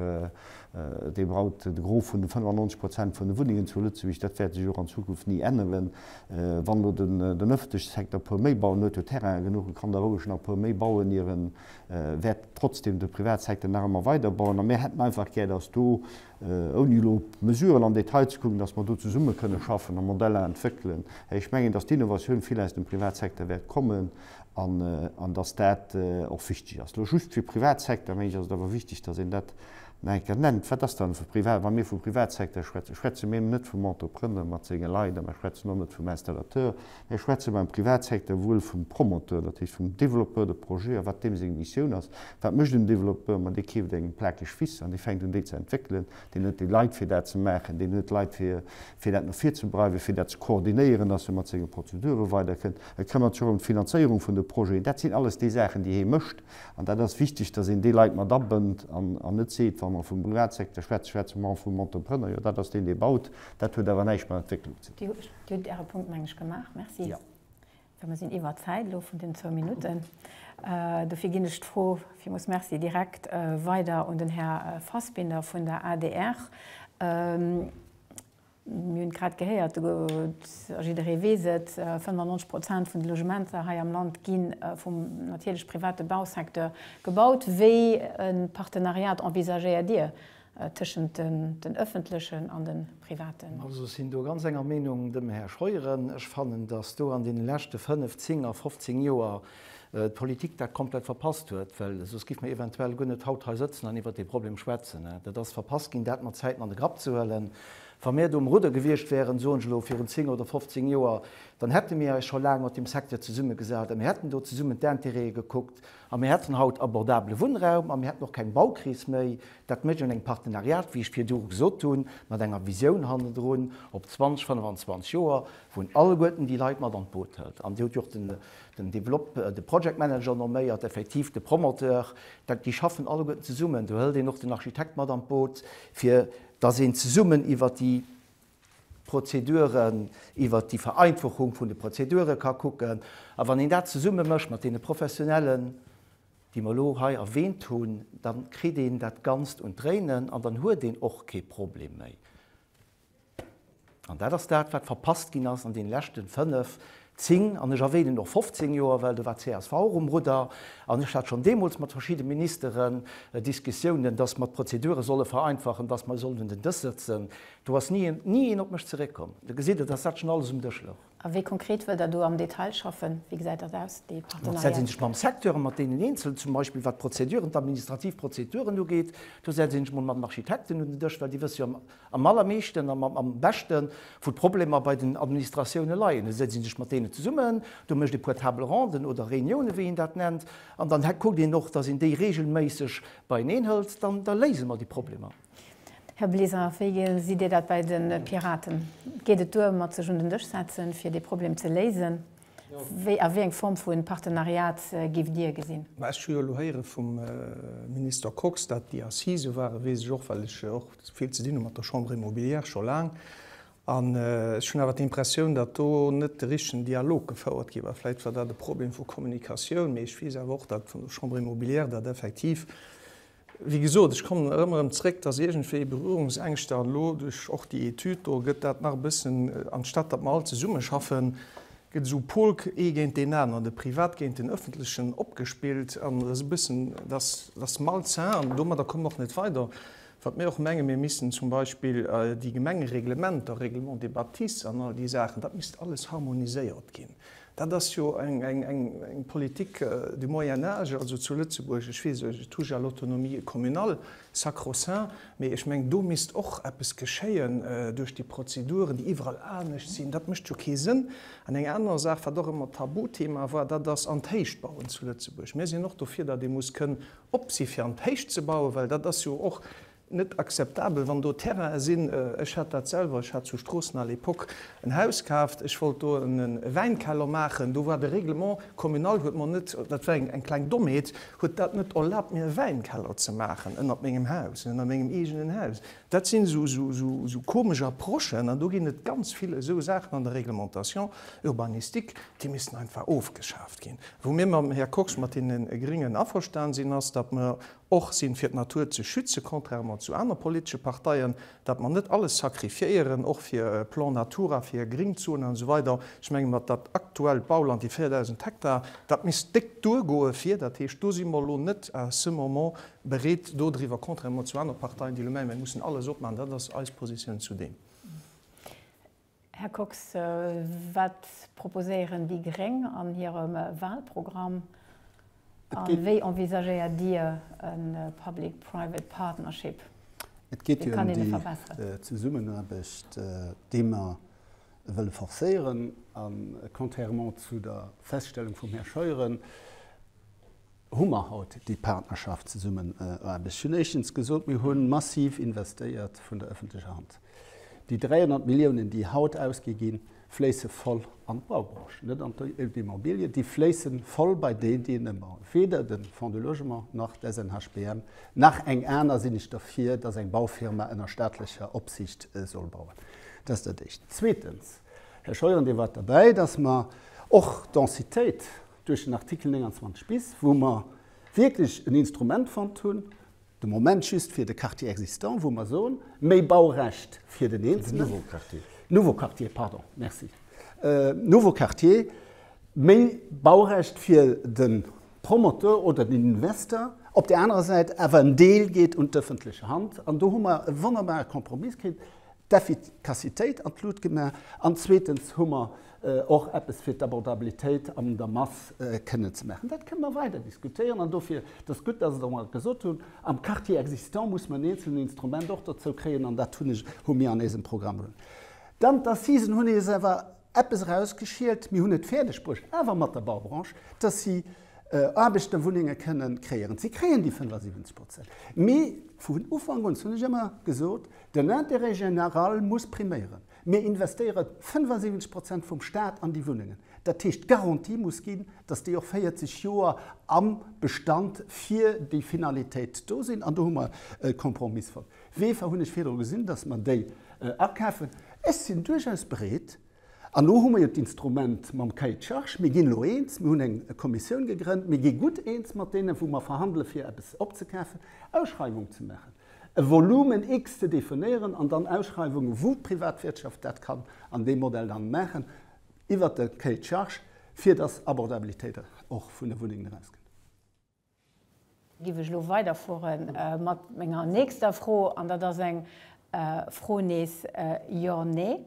dee baut de Gros vun de 95 Prozent vun de Wunnengen zu Lëtzebuerg, dat wäert sech och an Zukunft ni änneren. Wann elo den ëffentleche Secteur e puer méi bauen huet, huet Terrainen genuch, e kann da roueg nach e puer méi bauen, ier e wäert trotzdem de Privatsecteur nach ëmmer weiderbauen. A mir hätten einfach gär, dass do ouni elo op d'Mesuren am Detail ze kucken, datt mer do zesumme kënne schaffen a Modeller entwéckelen. Ech mengen, datt d'Innovatioun vill aus dem Privatsecteur wäert kommen an datt dat och wichteg ass. Elo just fir Privatsecteur, meng ech, ass et awer wichteg, datt een dat nach eng Kéier nennt. Wat ass dann e Privat, wa mir vu Privatsecteur schwätzen? Schwätze mir net vum Entrepreneur mat senge Leit a mir schwätzen och net vum Installateur, Hei schwätze mer am Privatsecteur wuel vum Promoteur, dat heescht vum Développeur de projet a wat deem seng Missioun ass. Wat mécht en Développeur? Ma dee keeft eng Plakeg Wiss an dee fänkt un déi ze entwéckelen. Deen huet déi Leit fir dat ze maachen, deen huet Leit fir fir dat no vir ze breiwen, fir dat ze koordinéieren, dass e mat senge Prozedure weider kënnt. E këmmert sech och ëm d'Finanzéierung vun de Projeten. Dat sinn alles déi Saachen déi hee mécht an dat ass wichteg, dass een déi Leit mat abënnt an an net seet, wa mer vum Privatsecteur schwätzen, schwätze mer och vum Entrepreneur, jo dat ass deen dee baut, dat huet awer näischt mat Entwécklung ze dinn. Dir hutt Äre Punkt, meng ech, gemaach. Merci. Well mir sinn iwwert d'Zäit elo vun den zwou Minutten. Dofir ginn ech d'Fro, Villmools merci, direkt weider un den Här Fassbinder vun der adr. Mir hunn et grad gehéiert, jidderee weess et, 95 Prozent vun de Logementer hei am Land gi vum natierlech private Bausecteur gebaut. Wéi e Partenariat envisagéiert Dir Tëschent den öffentlechen an den privaten. Also sinn do ganz enger Meenung dem Här Scheuren. Ech fannen, dass do an deenen leschte fënnf, zéng a fofzéng Joer d'Politik dat komplett verpasst huet, well soss giff mer eventuell guer net haut hei sëtzen an iwwert dee Problem schwätzen. Dat ass verpasst ginn, dat mat Zäiten an de Grapp ze huelen. Wa mir do um Rudder gewiescht wäeren, soen ech elo, virun zéng oder fofzéng Joer, dann hätte mir eis scho laang mat deem Secteur zesummegesat a mir hätten do zesummen d'Intérêtë gekuckt A mir hätten haut abordabele Wunnraum a mir hätten och keng Baukris méi. Dat mécht een engem Partenariat, wéi ech virdu gesot hunn, mat enger Visioun hannendrun op 20, 25 Joer, wou een alleguerten déi Leit mat an d'Boot hëlt. An Dir hutt jo och den Develop-, de Project Manager nomméiert, effektiv de Promoteur. Dat, déi schaffen alleguerten zesummen. Do hëlt een och den Architekt mat an d'Boot, fir dass een zesummen iwwert déi Prozeduren, iwwert déi Vereinfachung vun de Prozedure ka kucken. A wann een dat zesumme mécht mat deene Professionellen, déi mer elo hei erwähnt hunn, da kritt een dat Ganzt un d'Dréinen an dann huet een och kee Problem méi. An dat ass dat, wat verpasst ginn ass an deene leschte fënnef, 10, an ech erwänen och 15 Joer, well do war d'CSV och um Rudder, an ech hat schonn deemools mat verschidde Ministeren Diskussiounen, dass mer d'Prozedure solle vereinfachen, dass mer sollen un den Dësch sëtzen. Do ass ni een, ni een op mech zeréckkomm. Da gesitt Der, dass dat schonn alles um Dësch louch. A wéi konkret wëllt Der do am Detail schaffen? Wéi gesäit dat aus, déi Partenariaten? Da setze ech mech mam Secteur an mat deenen Eenzelen, zum Beispill wat d'Prozeduren, d'administrativ Prozeduren ugeet. Do setze ech mech mol mat den Architekten un den Dësch, well déi wësse jo am. am allermeeschten a am beschte wou d'Problemer bei den Administratioune leien. Da setzt ee sech mat deenen zesummen, do mécht ee puer Table ronden oder Reuniounen, wéi een dat nennt, an dann kuckt een och, datt een déi reegelméisseg beieneen hëlt. Dann léise mer déi Problemer. Här Bleser, wéi gesitt Dir dat bei de Piraten? Geet et duer mat sech un den Dësch setzen, fir dee Problem ze léisen? Wéi a wéi eng Form vu Partenariat géift Dir gesinn? Ech hu jo elo héiere vum Minister Kox, dat déi Assisë ware weess ech och, well ech och vill ze dinn hu mat der Chambre immobilière scho laang. An ech hunn awer d'Impressioun, datt do net de richtegen Dialog gefouert gi war. Vläicht war dat e Problem vu Kommunikatioun, mee ech weess awer och, datt vun der Chambre immobilière dat effektiv Wéi gesot, ech kommen erëm erëm zréck, dass iergendwéi Berührungsängschter, an elo duerch och déi Etüd do gëtt dat nach e bëssen, anstatt datt mer all zesummeschaffen, gëtt esou Pol ee géint deen aner, de Privat géint den Ëffentlechen opgespillt an esou e bëssen, dass ass malsain an domadder kommen mer och net weider. Wat mir och menge, mir missten zum Beispill déi Gemengereglementer, Règlement des bâtisses an all déi Saachen, dat misst alles harmoniséiert ginn. Dat ass jo eng Politik du Moyen âge, also zu Lëtzebuerg, ech weess, je touche à l'autonomie communale, sacro-saint, mee ech mengen, do misst och eppes geschéien duerch déi Prozeduren, déi iwwerall anescht sinn. Dat mécht jo kee Sënn. An eng aner Saach, wat och ëmmer Tabuthema war, dat ass an d'Héicht bauen zu Lëtzebuerg. Mir sinn och dofir, datt ee muss kënnen op si fir an d'Héicht ze bauen, well dat ass jo och net akzeptabel, wann do Terrainen sinn. Ech hat dat selwer, ech hat zu Stroossen à l'époque en Haus kaaft, ech wollt do e Wäinkeller maachen, do war de Règlement communal huet mer net, dat war eng kleng Dommheet, huet dat net erlaabt mir e Wäinkeller ze maachen ënnert mengem Haus, ënnert mengem eegenen Haus. Dat sinn esou komesch Approchen an do ginn et ganz vill esou Saachen an der Réglementation urbanistique, déi missten einfach ofgeschaaft ginn. Wou mir mam Här Kox, mat deene Gringen averstan sinn, ass, datt mer och sinn, fir d'Natur ze schützen, contrairement zu aner politesche Parteien, datt mer net alles sacrifiéieren, och fir e Plan Natura, fir Gringzonen an esou weider. Ech menge mer, dat aktuellt Bauland, déi 4.000 Hektar, dat misst déck duergoe fir. Dat heescht, do si mer elo net à ce moment bereet dodriwwer, contrairement zu aner Parteien, déi elo mengen, mir mussen alles opmaachen. Dat ass eis Positioun zu deem. Här Kox, wat proposéieren déi gréng an hirem Wahlprogramm a wéi envisagéiert Dir e public-private partnership? Et geet jo ëm déi Zesummenaarbecht, déi mer wëlle forcéieren. A contrairement zu der Feststellung vum Här Scheuren, Hu mer haut déi Partnerschaft, Zesummenaarbecht? Ech hunn éischtens gesot, mir hu massiv investéiert vun der öffentlecher Hand. Déi 300 Milliounen, déi haut ausgi ginn, fléisse voll an d'Baubranche, net an d'Immobilie, déi fléisse voll bei deen, deen ëmbauen. Weder de Fonds de logement nach d'SNHBM nach eng aner sinn ech derfir, dass eng Baufirma ënner staatlecher Opsicht soll bauen. Dat ass dat Éischt. Zweetens, Här Scheuren, Dir waart derbäi, dass mer och d'Densitéit duerch den Artikel 29 bis, wou mer wierklech en Instrument fonnt hunn, de Moment just fir de Quartier existant, wou mer soen, méi Baurecht fir den Eenzelen. Nouveau Quartier. Nouveau Quartier, pardon, merci. Nouveau Quartier, méi Baurecht fir de Promoteur oder den Investor, op där anerer Säit awer en Deel geet un d'ëffentlech Hand. An do hu mer e wonnerbare Kompromiss kritt. d'Effikassitéit an d'Lut gemaach an zweetens hu mer och eppes fir d'Abordabilitéit an der Mass kënnen ze maachen. Dat kënne mer weider diskutéieren an dofir, et ass gutt, dass Der mer gesot hunn, am Quartier existant muss mer en eenzelnen Instrument och dozou kréien an dat hu mir an eisem Programm. Dann d'Assisen hunn eis awer. eppes erausgeschielt, mir hunn et fäerdeg bruecht, awer mat der Baubranche, dass si Aarbecht a Wunnenge kënne kreéieren. Si kréien déi 75 Prozent. Mee vun Ufank un, dat hunn ech ëmmer gesot, den Intérêt général muss priméieren. Mir investéiere 75 Prozent vum Stat an déi Wunnengen. Dat heescht, d'Garantie muss ginn, dass déi och 40 Joer am Bestand fir déi Finalitéit do sinn. An do hu mer e Kompromiss fonnt. Weefer hunn ech virdru gesinn, dass mer déi akafen. Ech sinn duerchaus bereet, an elo hu mer jo d'Instrument mam Cahier de charges, mir ginn elo eens, mir hunn eng Kommissioun gegrënnt, mir gi gutt eens mat deenen, wou mer verhandelen, fir eppes opzekafen, Ausschreiwungen ze maachen, e Volumen X ze definéieren an dann Ausschreiwungen, wou d'Privatwirtschaft dat kann an deem Modell dann maachen, iwwert de Cahier de charges, fir dass Abordabilitéit och vun de Wunnengen erausgeet. Giff ech elo weiderfuere mat menger nächster Fro, an dat ass eng Fro nees Jo-Nee.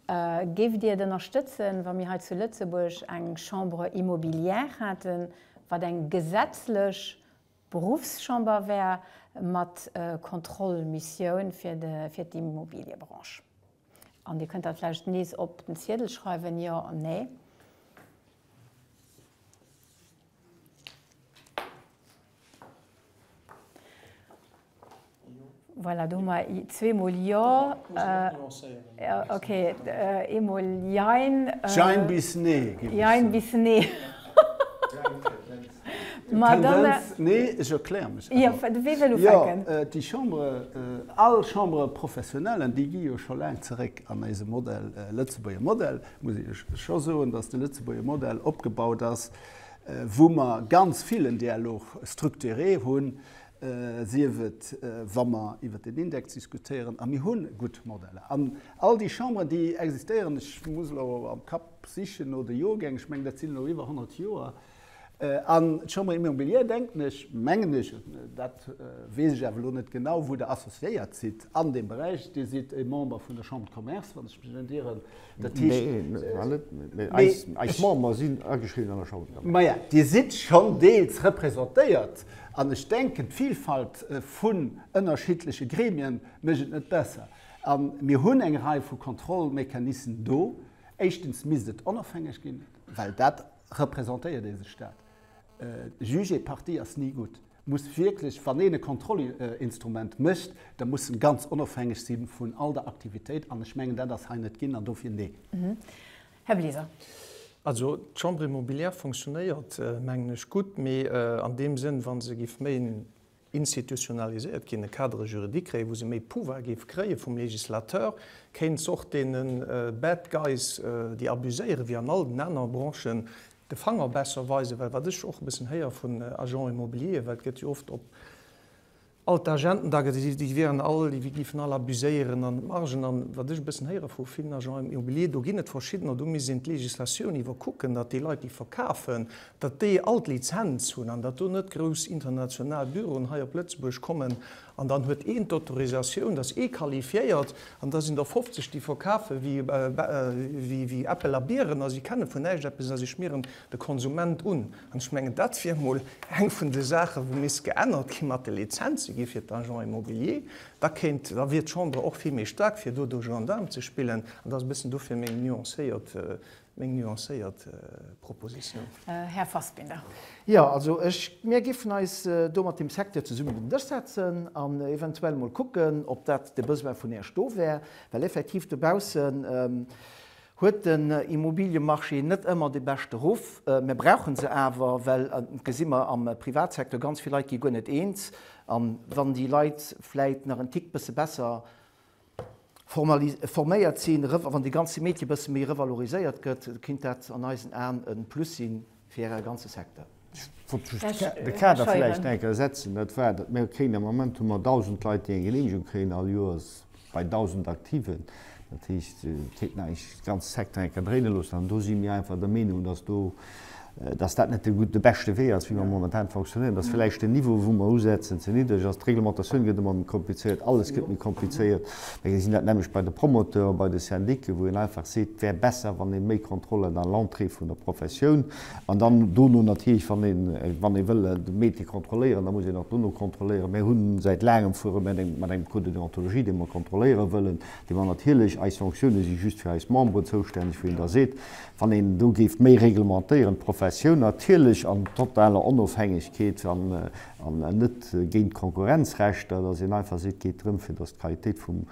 Géift Dir et ënnerstëtzen, wa mir hei zu Lëtzebuerg eng Chambre immobilière hätten, wat eng gesetzlech Beruffschamber wär mat Kontrollmissioun fir d'Immobiliëbranche? An Dir kënnt dat vläicht nees op den Ziedel schreiwen, Jo, Nee. Voilà, do hu mer zweemol Jo. Okay, eemol Jein. Jein bis Nee, géif ech soen. Jein bis Nee. Ma dann. D'Tendenz, nee, ech erkläre mech awer. Jo, du wéi wëll ufänken? Jo, déi Chambre, all Chambres professionnelles, déi gi jo scho laang zeréck an eise Modell, Lëtzebuerger Modell, muss ech scho soen, datt de Lëtzebuerger Modell opgebaut ass wou mer ganz vill en Dialogue structuré hunn, sief et wa mer iwwert den Index diskutéieren, a mir hu gutt Modeller. An all déi Chamberen, déi existéieren, ech muss elo am Kapp sichen no de Joergäng, ech mengen dat sinn elo iwwer 100 Joer, an d'Chambre immobilière, denken ech, mengen ech, dat weess ech awer elo net genau, wou Der associéiert sidd an deem Beräich, Dir sidd e Member vun der Chambre de Commerce, wann ech mech net iren, Dat heescht. Nee, mir waren net. Mee eis, eis Member sinn ageschriwwen an der Chamber d'Commerce. Maja, Dir sidd schonn deels representéiert. An ech denken, d'Vilfalt vun ënnerschiddleche Gremien mécht et net besser. A mir hunn eng Rei vu Kontrollmechanissen do. Éischtens misst et onofhängeg ginn, well dat representéiert ee sech dat. Juge et partie ass ni gutt. muss wierklech, wann een e Kontrollinstrument mécht, da muss en ganz onofhängeg si vun all der Aktivitéit, an ech mengen, dat ass hei net ginn, an dofir Neen. Här Bleser. Also d'Chambre immobilière fonctionnéiert, mengen ech, gutt, mee an deem Sënn, wa se géif méi institutionaliséiert ginn, e Cadre juridique kréien, wou se méi Pouvoir géif kréie vum Législateur, kéint se och deene bad guys, déi abuséieren, wéi an all den anere Branchen, de Fanger besser weisen, well wat ech och e bëssen héier vun Agents immobiliers, well et gëtt jo oft op all d'Agenten da gesinn, déi wieren all, déi géifen all abuséieren an d'Margen, an wat ech e bëssen héiere vu villen Agents immobiliers, do ginn et verschiddener, do misst een d'Legislatioun iwwerkucken, datt déi Leit, déi verkafen, datt déi all d'Lizenz hunn an datt do net grouss international Büroen hei op Lëtzebuerg kommen An dann huet een d'Autorisatioun, dass ee qualifiéiert, an da sinn der 50, déi verkafe wéi Äppel a Bieren a si kenne vun näischt eppes a si schmieren de Konsument un. An ech mengen, dat wier emol eng vun de Saache wou misst geännert ginn, mat de Lizenze gi fir d'Agents immobiliers. Da kéint, da wier d'Chamber och vill méi staark fir do de Gendarm ze spillen. An dat ass e bëssen dofir meng nuancéiert Meng nuancéiert Proposition. Här Fassbinder. Jo, also ech, mir géifen eis do mat dem Secteur zesummen un den Dësch setzen an eventuell emol kucken, ob dat de Besoin vun Esch do wär, well effektiv dobaussen huet den Immobiliëmarché net ëmmer de beschte Ruff. Mir brauche se awer, well et gesi mer am Privatsecteur ganz vill Leit gi guer net eens, a wann déi Leit vläit nach en Tick bësse besser forméiert sinn, wann dee ganze Métier e bësse méi revaloriséiert gëtt, kinnt dat an eisen Aen e Plus si fir e ganze Secteur. Ech wollt just de Kader vläicht eng Kéier setzen. Dat war, datt mir kréien, am Moment hu mer 1.000 Leit, déi eng Geneemegung kréien all Joers, bei 1.000 Aktiven. Dat heescht, et kéint een eigentlech de ganze Secteur eng Kéier dréine loossen. An do si mir einfach der Meenung, datt do dass dat net de beschte Wee ass, wéi mer momentan fonctionnéieren, dass vläicht den Niveau, wou mer usetzen, ze niddreg ass. D'Reglementatioun gëtt ëmmer méi komplizéiert, alles gëtt méi komplizéiert. Mä mir gesinn dat nämmlecht bei de Promoteuren, bei de Syndicken, wou een einfach seet, et wär besser, wann ee méi Kontrollen à l'entrée vun der Professioun an dann dono natierlech, wann een, wann ee wëll de Métier kontrolléieren, da muss een och dono kontrolléieren. Mir hu säit laangem fuere mir mat engem Code de déontologie, dee mer kontrolléiere wëllen, dee mer natierlech, eis Sanctiounen si just fir eis Memberen zoustänneg, wou een da seet, Wann een do géif méi reglementéieren, d'Professioun natierlech an totaler Onofhängegkeet an net géint d'Konkurrenzrecht, dat ass een einfach seet, et geet drëm, fir datt d'Qualitéit vum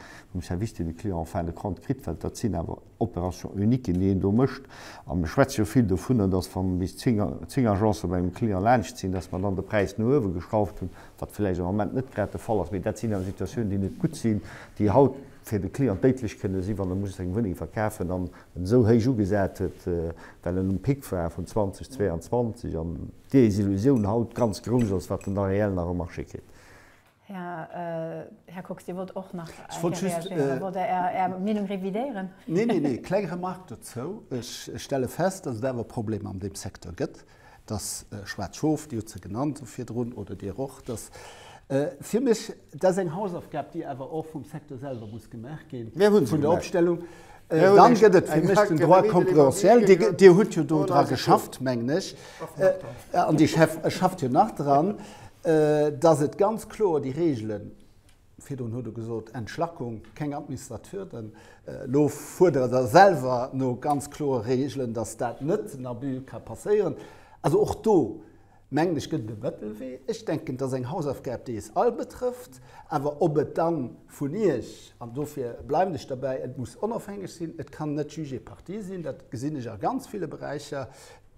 Service, deen de Client en fin de compte kritt, well dat sinn awer Opérations uniques, déi een do mécht. A mir schwätze jo vill dovunner, datt wa bis zéng Agencë bei engem Client laanscht sinn, datt mer dann de Präis no uewe geschrauft hunn, wat vläicht am Moment net grad de Fall ass. Mee dat sinn awer Situatiounen, déi net gutt sinn, déi haut fir de Client déidlech kënne sinn, wann e muss seng Wunneng verkafen an esou héich ugesat huet, well en um Pic war vun 2022 an d'Desillusioun haut ganz grouss ass, wat den Areell nach e Marché kritt. Här Kox, Dir wollt och nach eng Kéier reagéieren oder wollt Der Är Meenung revidéieren? Neen, neen, eng kleng Remark dozou. Ech stelle fest, dass et awer Problemer an deem Secteur gëtt. Dass schwaarz Schof, Dir hutt se genannt virdrun, oder Dir och, dass fir mech, dat ass eng Hausaufgab, déi awer och vum Secteur selwer muss gemaach ginn, vun der Opstellung. Dann gëtt et fir mech den Droit concurrentiel. Dir hutt jo do dra geschafft, mengen ech, an Dir schafft jo nach dran, dass et ganz kloer déi Regeln Virdrun hutt Der gesot, Entschlackung, keng administrativ Hürden. Elo fuerdere Der selwer no ganz kloere Regeln, dass dat net, den Abus ka passéieren. Also och do, mengen ech, gëtt et e Mëttelwee. Ech denken, et ass eng Hausaufgab, déi eis all betrëfft. Awer ob et dann vun Iech, an dofir bleiwen ech derbäi, et muss onofhängeg sinn, et kann net Juge et partie sinn, dat gesinn ech a ganz ville Beräicher,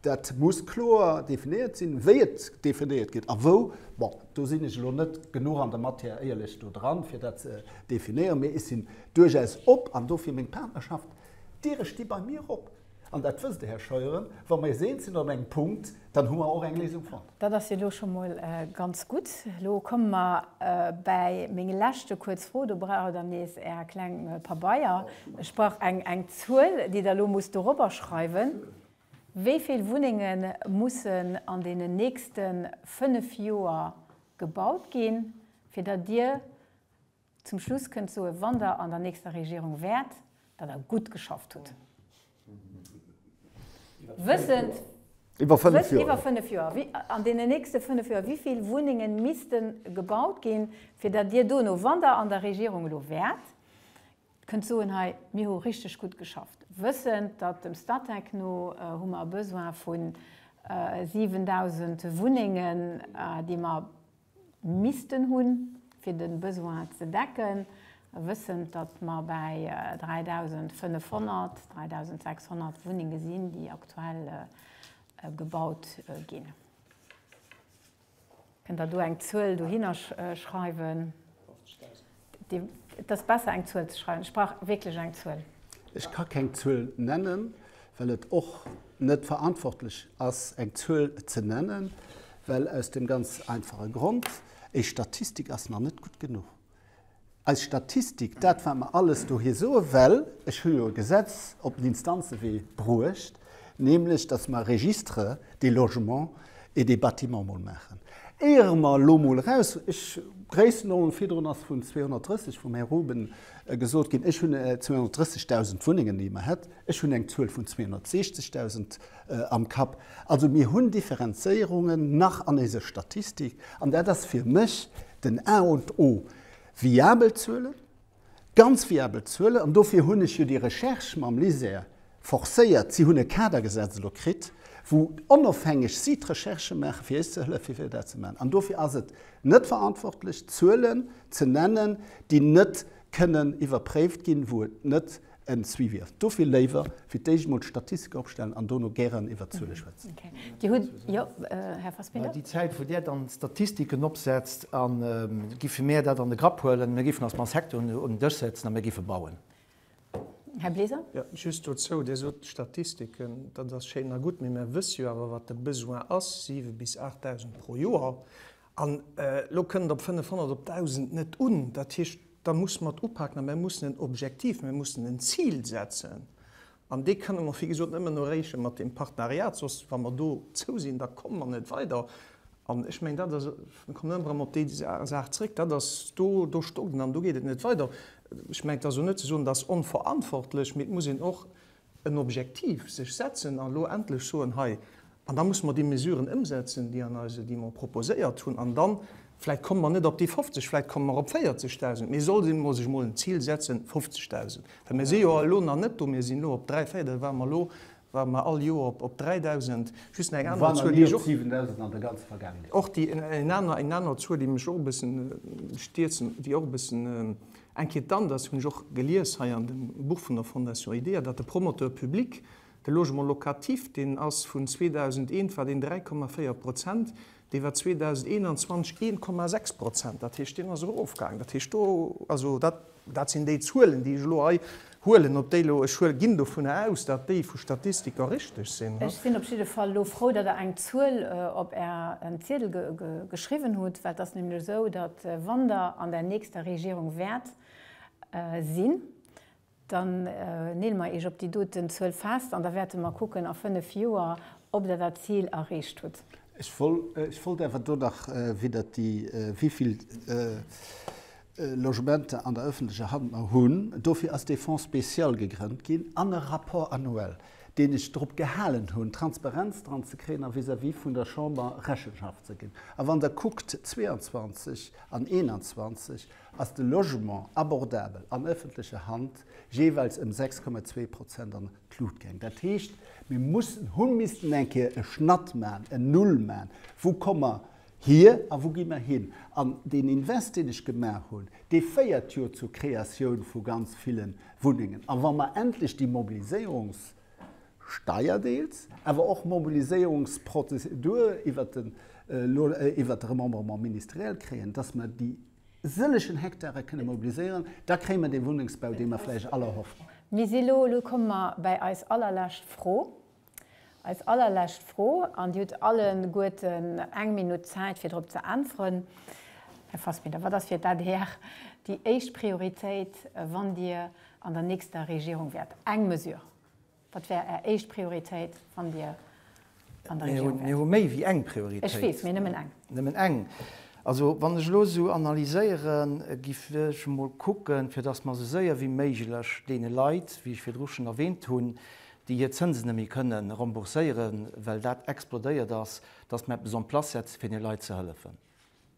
Dat muss kloer definéiert sinn, wéi et definéiert gëtt a wou. Bon, do sinn ech elo net genuch an der Matière éierlech do dran, fir dat ze definéieren, mee ech sinn duerchaus op, an dofir meng Partnerschaft, d'Diere sti bei mir op. An dat wësst Der, Här Scheuren, wa mer eis eens sinn an engem Punkt, dann hu mer och eng Léisung fonnt. Dat ass jo elo scho mol ganz gutt. Elo komme mer bäi meng leschte kuerz Fro. Do brauch Der nees Är kleng Pabeier. Ech brauch eng Zuel, déi Der elo musst dorobber schreiwen. Wéi vill Wunnenge mussen an deenen nächste fënnef Joer gebaut ginn, fir datt Dir zum Schluss kënnt soen, wann Der an der nächster Regierung wäert, datt Der gutt geschafft hutt? Wëssend, Iwwer fënnef Joer. An deenen nächste fënnef Joer, wéi vill Wunnenge misste gebaut ginn, fir datt Dir dono, wann Der an der Regierung elo wäert, Kënnt soen, hei, mir hu richteg gutt geschafft, wëssend, datt dem Statec no hu mer e Besoin vu 7.000 Wunnengen, déi mer missten hunn, fir de Besoin ze decken, wëssend, datt mer bäi 3.500, 3.600 Wunnenge sinn, déi aktuell gebaut ginn. Kënnt der do eng Zuel dohinner schreiwen? 50.000. Et ass besser eng Zuel ze schreiwen. Ech brauch wierklech eng Zuel. Ech ka keng Zuel nennen, well et och net verantwortlech ass eng Zuel ze nennen, well aus dem ganz einfache Grond, Eis Statistik ass nach net gutt genuch. Eis Statistik, dat wat mer alles dohier soe, well ech hu jo e Gesetz op den Instanzewee bruecht, nämlech datt mer e Registre des logements et des bâtiments mol maachen, éiere mer elo mol eraus, ech, Gréissenordnung, virdrun ass vun 230 vum Här Ruben gesot ginn, ech hunn 230.000 Wunnengen, déi mer hätt, ech hunn eng Zuel vun 260.000 Am Kapp. Also mir hunn Differenzéierungen nach an éise Statistik, an dat ass fir mech den A und O. Viabel Zuelen, ganz viabel Zuelen, an dofir hunn ech jo déi Recherche mam LISER forcéiert. Si hunn e Kadergesetz elo kritt, wou onofhängeg si d'Recherche maachen, fir eis ze hëllefen, fir dat ze maachen. An dofir ass et net verantwortlech, Zuelen ze nennen, déi net kënnen iwwerpréift ginn, wou et net en Suivi ass. Dofir léiwer fir d'éischt emol d'Statistike opstellen an dono gären iwwert d'Zuele schwätzen. Dir hutt, jo, Här Fassbinder. Déi Zäit, wou Där dann d'Statistiken opsetzt, giffe mir dat an de Grapp huelen. Mir géifen eis mam Secteur un den Dësch setzen a mir géife bauen. Här Bleser. Jo, just dozou, Dir sot d'Statistiken, dat ass schéin a gutt, mee mir wësse jo awer, wat de Besoin ass, siwe bis aacht Dausend pro Joer. An elo kënnt op 500, op 1.000 net un. Dat heescht, da muss mer et upaken a mir mussen en Objektiv, mir mussen en Zil setzen. An dee kënne mer, wéi gesot, nëmmen erreeche mat deem Partenariat. Soss, wa mer dozou sinn, da komme mer net weider. An ech mengen, dat ass, mir kommen ëmmer erëm op déi Saach zréck, dat ass, do, do stocken an do geet et net weider. Ech mengen, et ass och net ze soen, dat ass onverantwortlech, mee et muss een och en Objektiv sech setzen a lo endlech soen, hei, an da musse mer déi Mesuren ëmsetzen, déi an eise, déi mer proposéiert hunn, an dann, vläicht komme mer net op déi 50, vläicht komme mer op 40.000, mee soll een emol sech emol en Zil setzen, 50.000, well mir si jo elo nach net do, mir sinn elo op dräi, véier, da ware mer elo, ware mer all Joer op op 3.000, just nach eng aner Zuel, déi ech och, och déi, eng aner, eng aner Zuel, déi mech och e bëssen stierzen, déi och e bëssen, Inquiétant ass, hunn ech och gelies hei an dem Buch vun der Fondation IDEA, datt de Promoteur public de Logement locatif, deen ass vun 2001 war deen 3,4 Prozent, dee war 2021 1,6 Prozent. Dat heescht, deen ass erofgaang. Dat heescht, do, also dat, dat sinn déi Zuelen, déi ech elo hei Huelen op déi lo, ech huel, ginn dovunner aus, datt déi vu Statistiker richteg sinn. Ech sinn op jidde Fall lo frou, datt Der eng Zuel op Är Ziedel geschriwwen hutt, well et ass nämlech esou, datt wann Der an der nächster Regierung wäert sinn, dann neel mer Iech op déi doten Zuel fest an da wäerte mer kucken a fënnef Joer, ob Der dat Zil erreecht hutt. Ech wollt awer do nach widder déi, wéi vill Logementer an der öffentlecher Hand mer hunn. Dofir ass dee Fonds spécial gegrënnt ginn an e Rapport annuel, deen ech drop gehalen hunn, Transparenz dran ze kréien a vis-à-vis vun der Chamber Rechenschaft ze ginn. A wann Der kuckt 22 an 21, ass de Logement abordabel an öffentlecher Hand jeeweils ëm 6,2 Prozent an d'Lut gaang. Dat heescht, mir mussen, hu missten eng Kéier e Schnatt man, en Null man, wou komme Hir a wou gi mer hin? An deen Invest, deen ech gemaach hunn, dee féiert jo zur Kreatioun vu ganz ville Wunnengen. A wa mer endlech déi Mobiliséierungssteier deels, awer och Mobiliséierungsprozedur iwwert den, iwwert de Remembrement ministériel kréien, dass mer déi sëllegen Hektare kënne mobiliséieren, da kréie mer dee Wunnengsbau, dee mer vläicht all erhoffen. Mir si elo, elo komme mer bäi eis allerlescht Fro, Eis allerlescht Fro, an Dir hutt alleguerten eng Minutt Zäit fir drop ze äntweren, Här Fassbinder, wat ass fir d'ADR déi éischt Prioritéit, wann Dir an der nächster Regierung wäert? Eng Mesure, wat wär Är éischt Prioritéit, wann Dir an der Regierung wäert? Mir hu méi wéi eng Prioritéit. Ech weess, mee nëmmen eng. Nëmmen eng. Also wann ech elo esou analyséieren, giff ech emol kucken, fir datt mer esou séier wéi méiglech deene Leit, wéi ech virdru schonn erwähnt hunn, déi hir Zënsen net méi kënne rembourséieren, well dat explodéiert ass, dass mer eppes en place setzen, fir deene Leit ze hëllefen.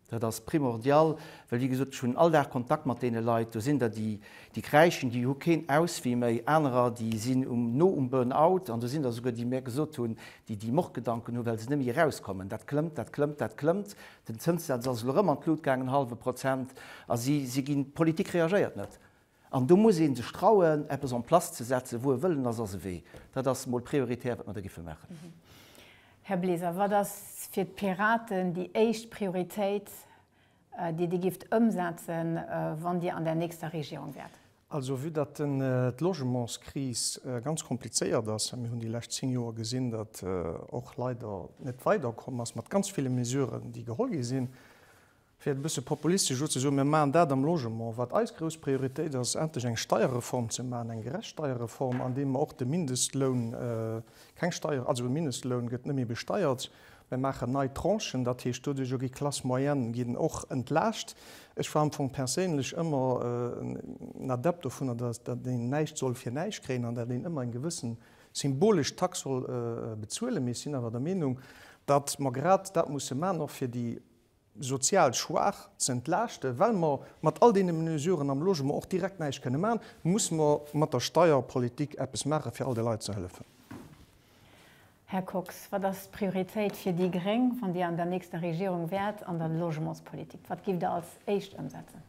Dat ass primordial, well, wéi gesot, ech hunn all Dag Kontakt mat deene Leit. Do sinn der, déi, déi kräischen, déi hu keen Auswee méi. Anerer, déi sinn um, no um Burn-out. An do sinn der esouguer, déi mir gesot hunn, déi, déi Mordgedanken hu well se net méi erauskommen. Dat klëmmt, dat klëmmt, dat klëmmt. Den Zënssaz ass elo erëm an d'Lut gaangen, hallwe Prozent. A si, si ginn, d'Politik reagéiert net. An do muss ee sech trauen, eppes en place ze setzen. Wou e Wëllen ass, ass e Wee. Dat ass mol prioritär, wat mer do géife maachen. Här Bleser, wat ass fir d'Piraten déi éischt Prioritéit, déi Dir géift ëmsetzen, wann Dir an der nächster Regierung wäert? Also, vue datt d'Logementskris ganz komplizéiert ass, a mir hunn déi lescht zéng Joer gesinn, datt och leider net weiderkomm ass mat ganz ville Mesuren, déi geholl gi sinn, Fir et e bësse populistesch elo ze soen, Mir maachen dat am Logement, wat eis grouss Prioritéit ass, endlech eng Steierreform ze maachen, eng gerecht Steierreform, andeem mer och de Mindestloun, keng Steier, also e Mindestloun gëtt net méi besteiert, mir maachen nei Tranchen, dat heescht, doduerjer ginn d'Classes moyennes ginn och entlaascht. Ech war am Fong perséinlech ëmmer en Adept dovunner, datt een näischt soll fir näischt kréien an datt een ëmmer eng gewësse symbolesch Tax soll bezuelen. Mee ech sinn awer der Meenung, datt mer grad dat musse maachen, och fir déi, sozial Schwaach ze entlaaschten, well mer mat all deene Mesuren am Logement och direkt näischt kënne maachen, musse mer mat der Steierpolitik eppes maachen, fir all de Leit ze hëllefen. Här Kox, wat ass d'Prioritéit fir déi gréng, wann Dir an der nächster Regierung wäert, an der Logementspolitik? Wat giff Der als éischt ëmsetzen?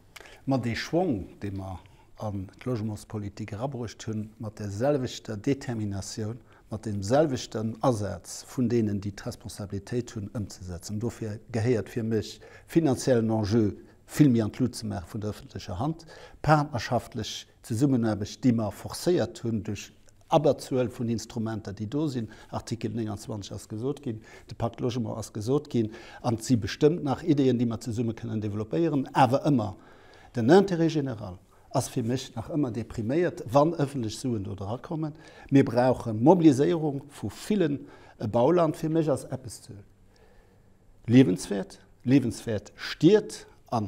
Ma dee Schwong, dee mer an d'Logementspolitik erabruucht hunn, mat där selwechter Determinatioun mat deem selwechten Asaz vun deenen, déi d'Responsabilitéit hunn, ëmzesetzen. Dofir gehéiert fir mech finanziellen Enjeu vill méi an d'Lut ze maache vun der öffentlecher Hand, partnerschaftlech Zesummenaarbecht, déi mer forcéiert hunn duerch Abberzuel vun Instrumenter, déi do sinn, Artikel 29 ass gesot ginn, de Pacte Logement ass gesot ginn, an et si bestëmmt nach Ideen, déi mer zesumme kënnen développéieren, awer ëmmer den Intérêt général. ass fir mech nach ëmmer depriméiert, wann ëffentlech Suen do dra kommen. Mir brauche Mobiliséierung vu villen. E Bauland fir mech ass eppes ze liewenswäert, liewenswäert Stied a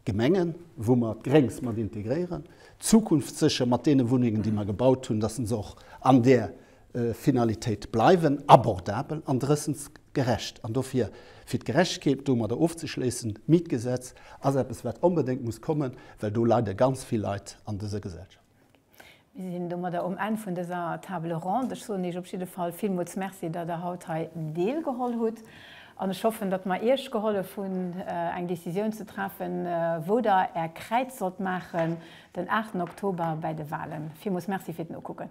Gemengen, wou mer d'Gréngs mat integréieren, zukunftssécher mat deene Wunnengen, déi mer gebaut hunn, dass en se och an där Finalitéit bleiwen, abordabel an drëssens gerecht. An dofir, fir d'Gerechtegkeet domadder ofzeschléissen, d'Mietgesetz ass eppes, wat onbedéngt muss kommen, well do leide ganz vill Leit an dëser Gesellschaft. Mir sinn domadder um Enn vun dëser Table ronde. Ech soen Iech op jidde Fall villmools Merci, datt Der haut hei deelgeholl hutt. An ech hoffen, datt mer Iech gehollef hunn, eng Décisioun ze treffen, wou Der Är Kräiz sollt maachen den 8 Oktober bäi de Wahlen. Villmools Merci fir d'Nokucken.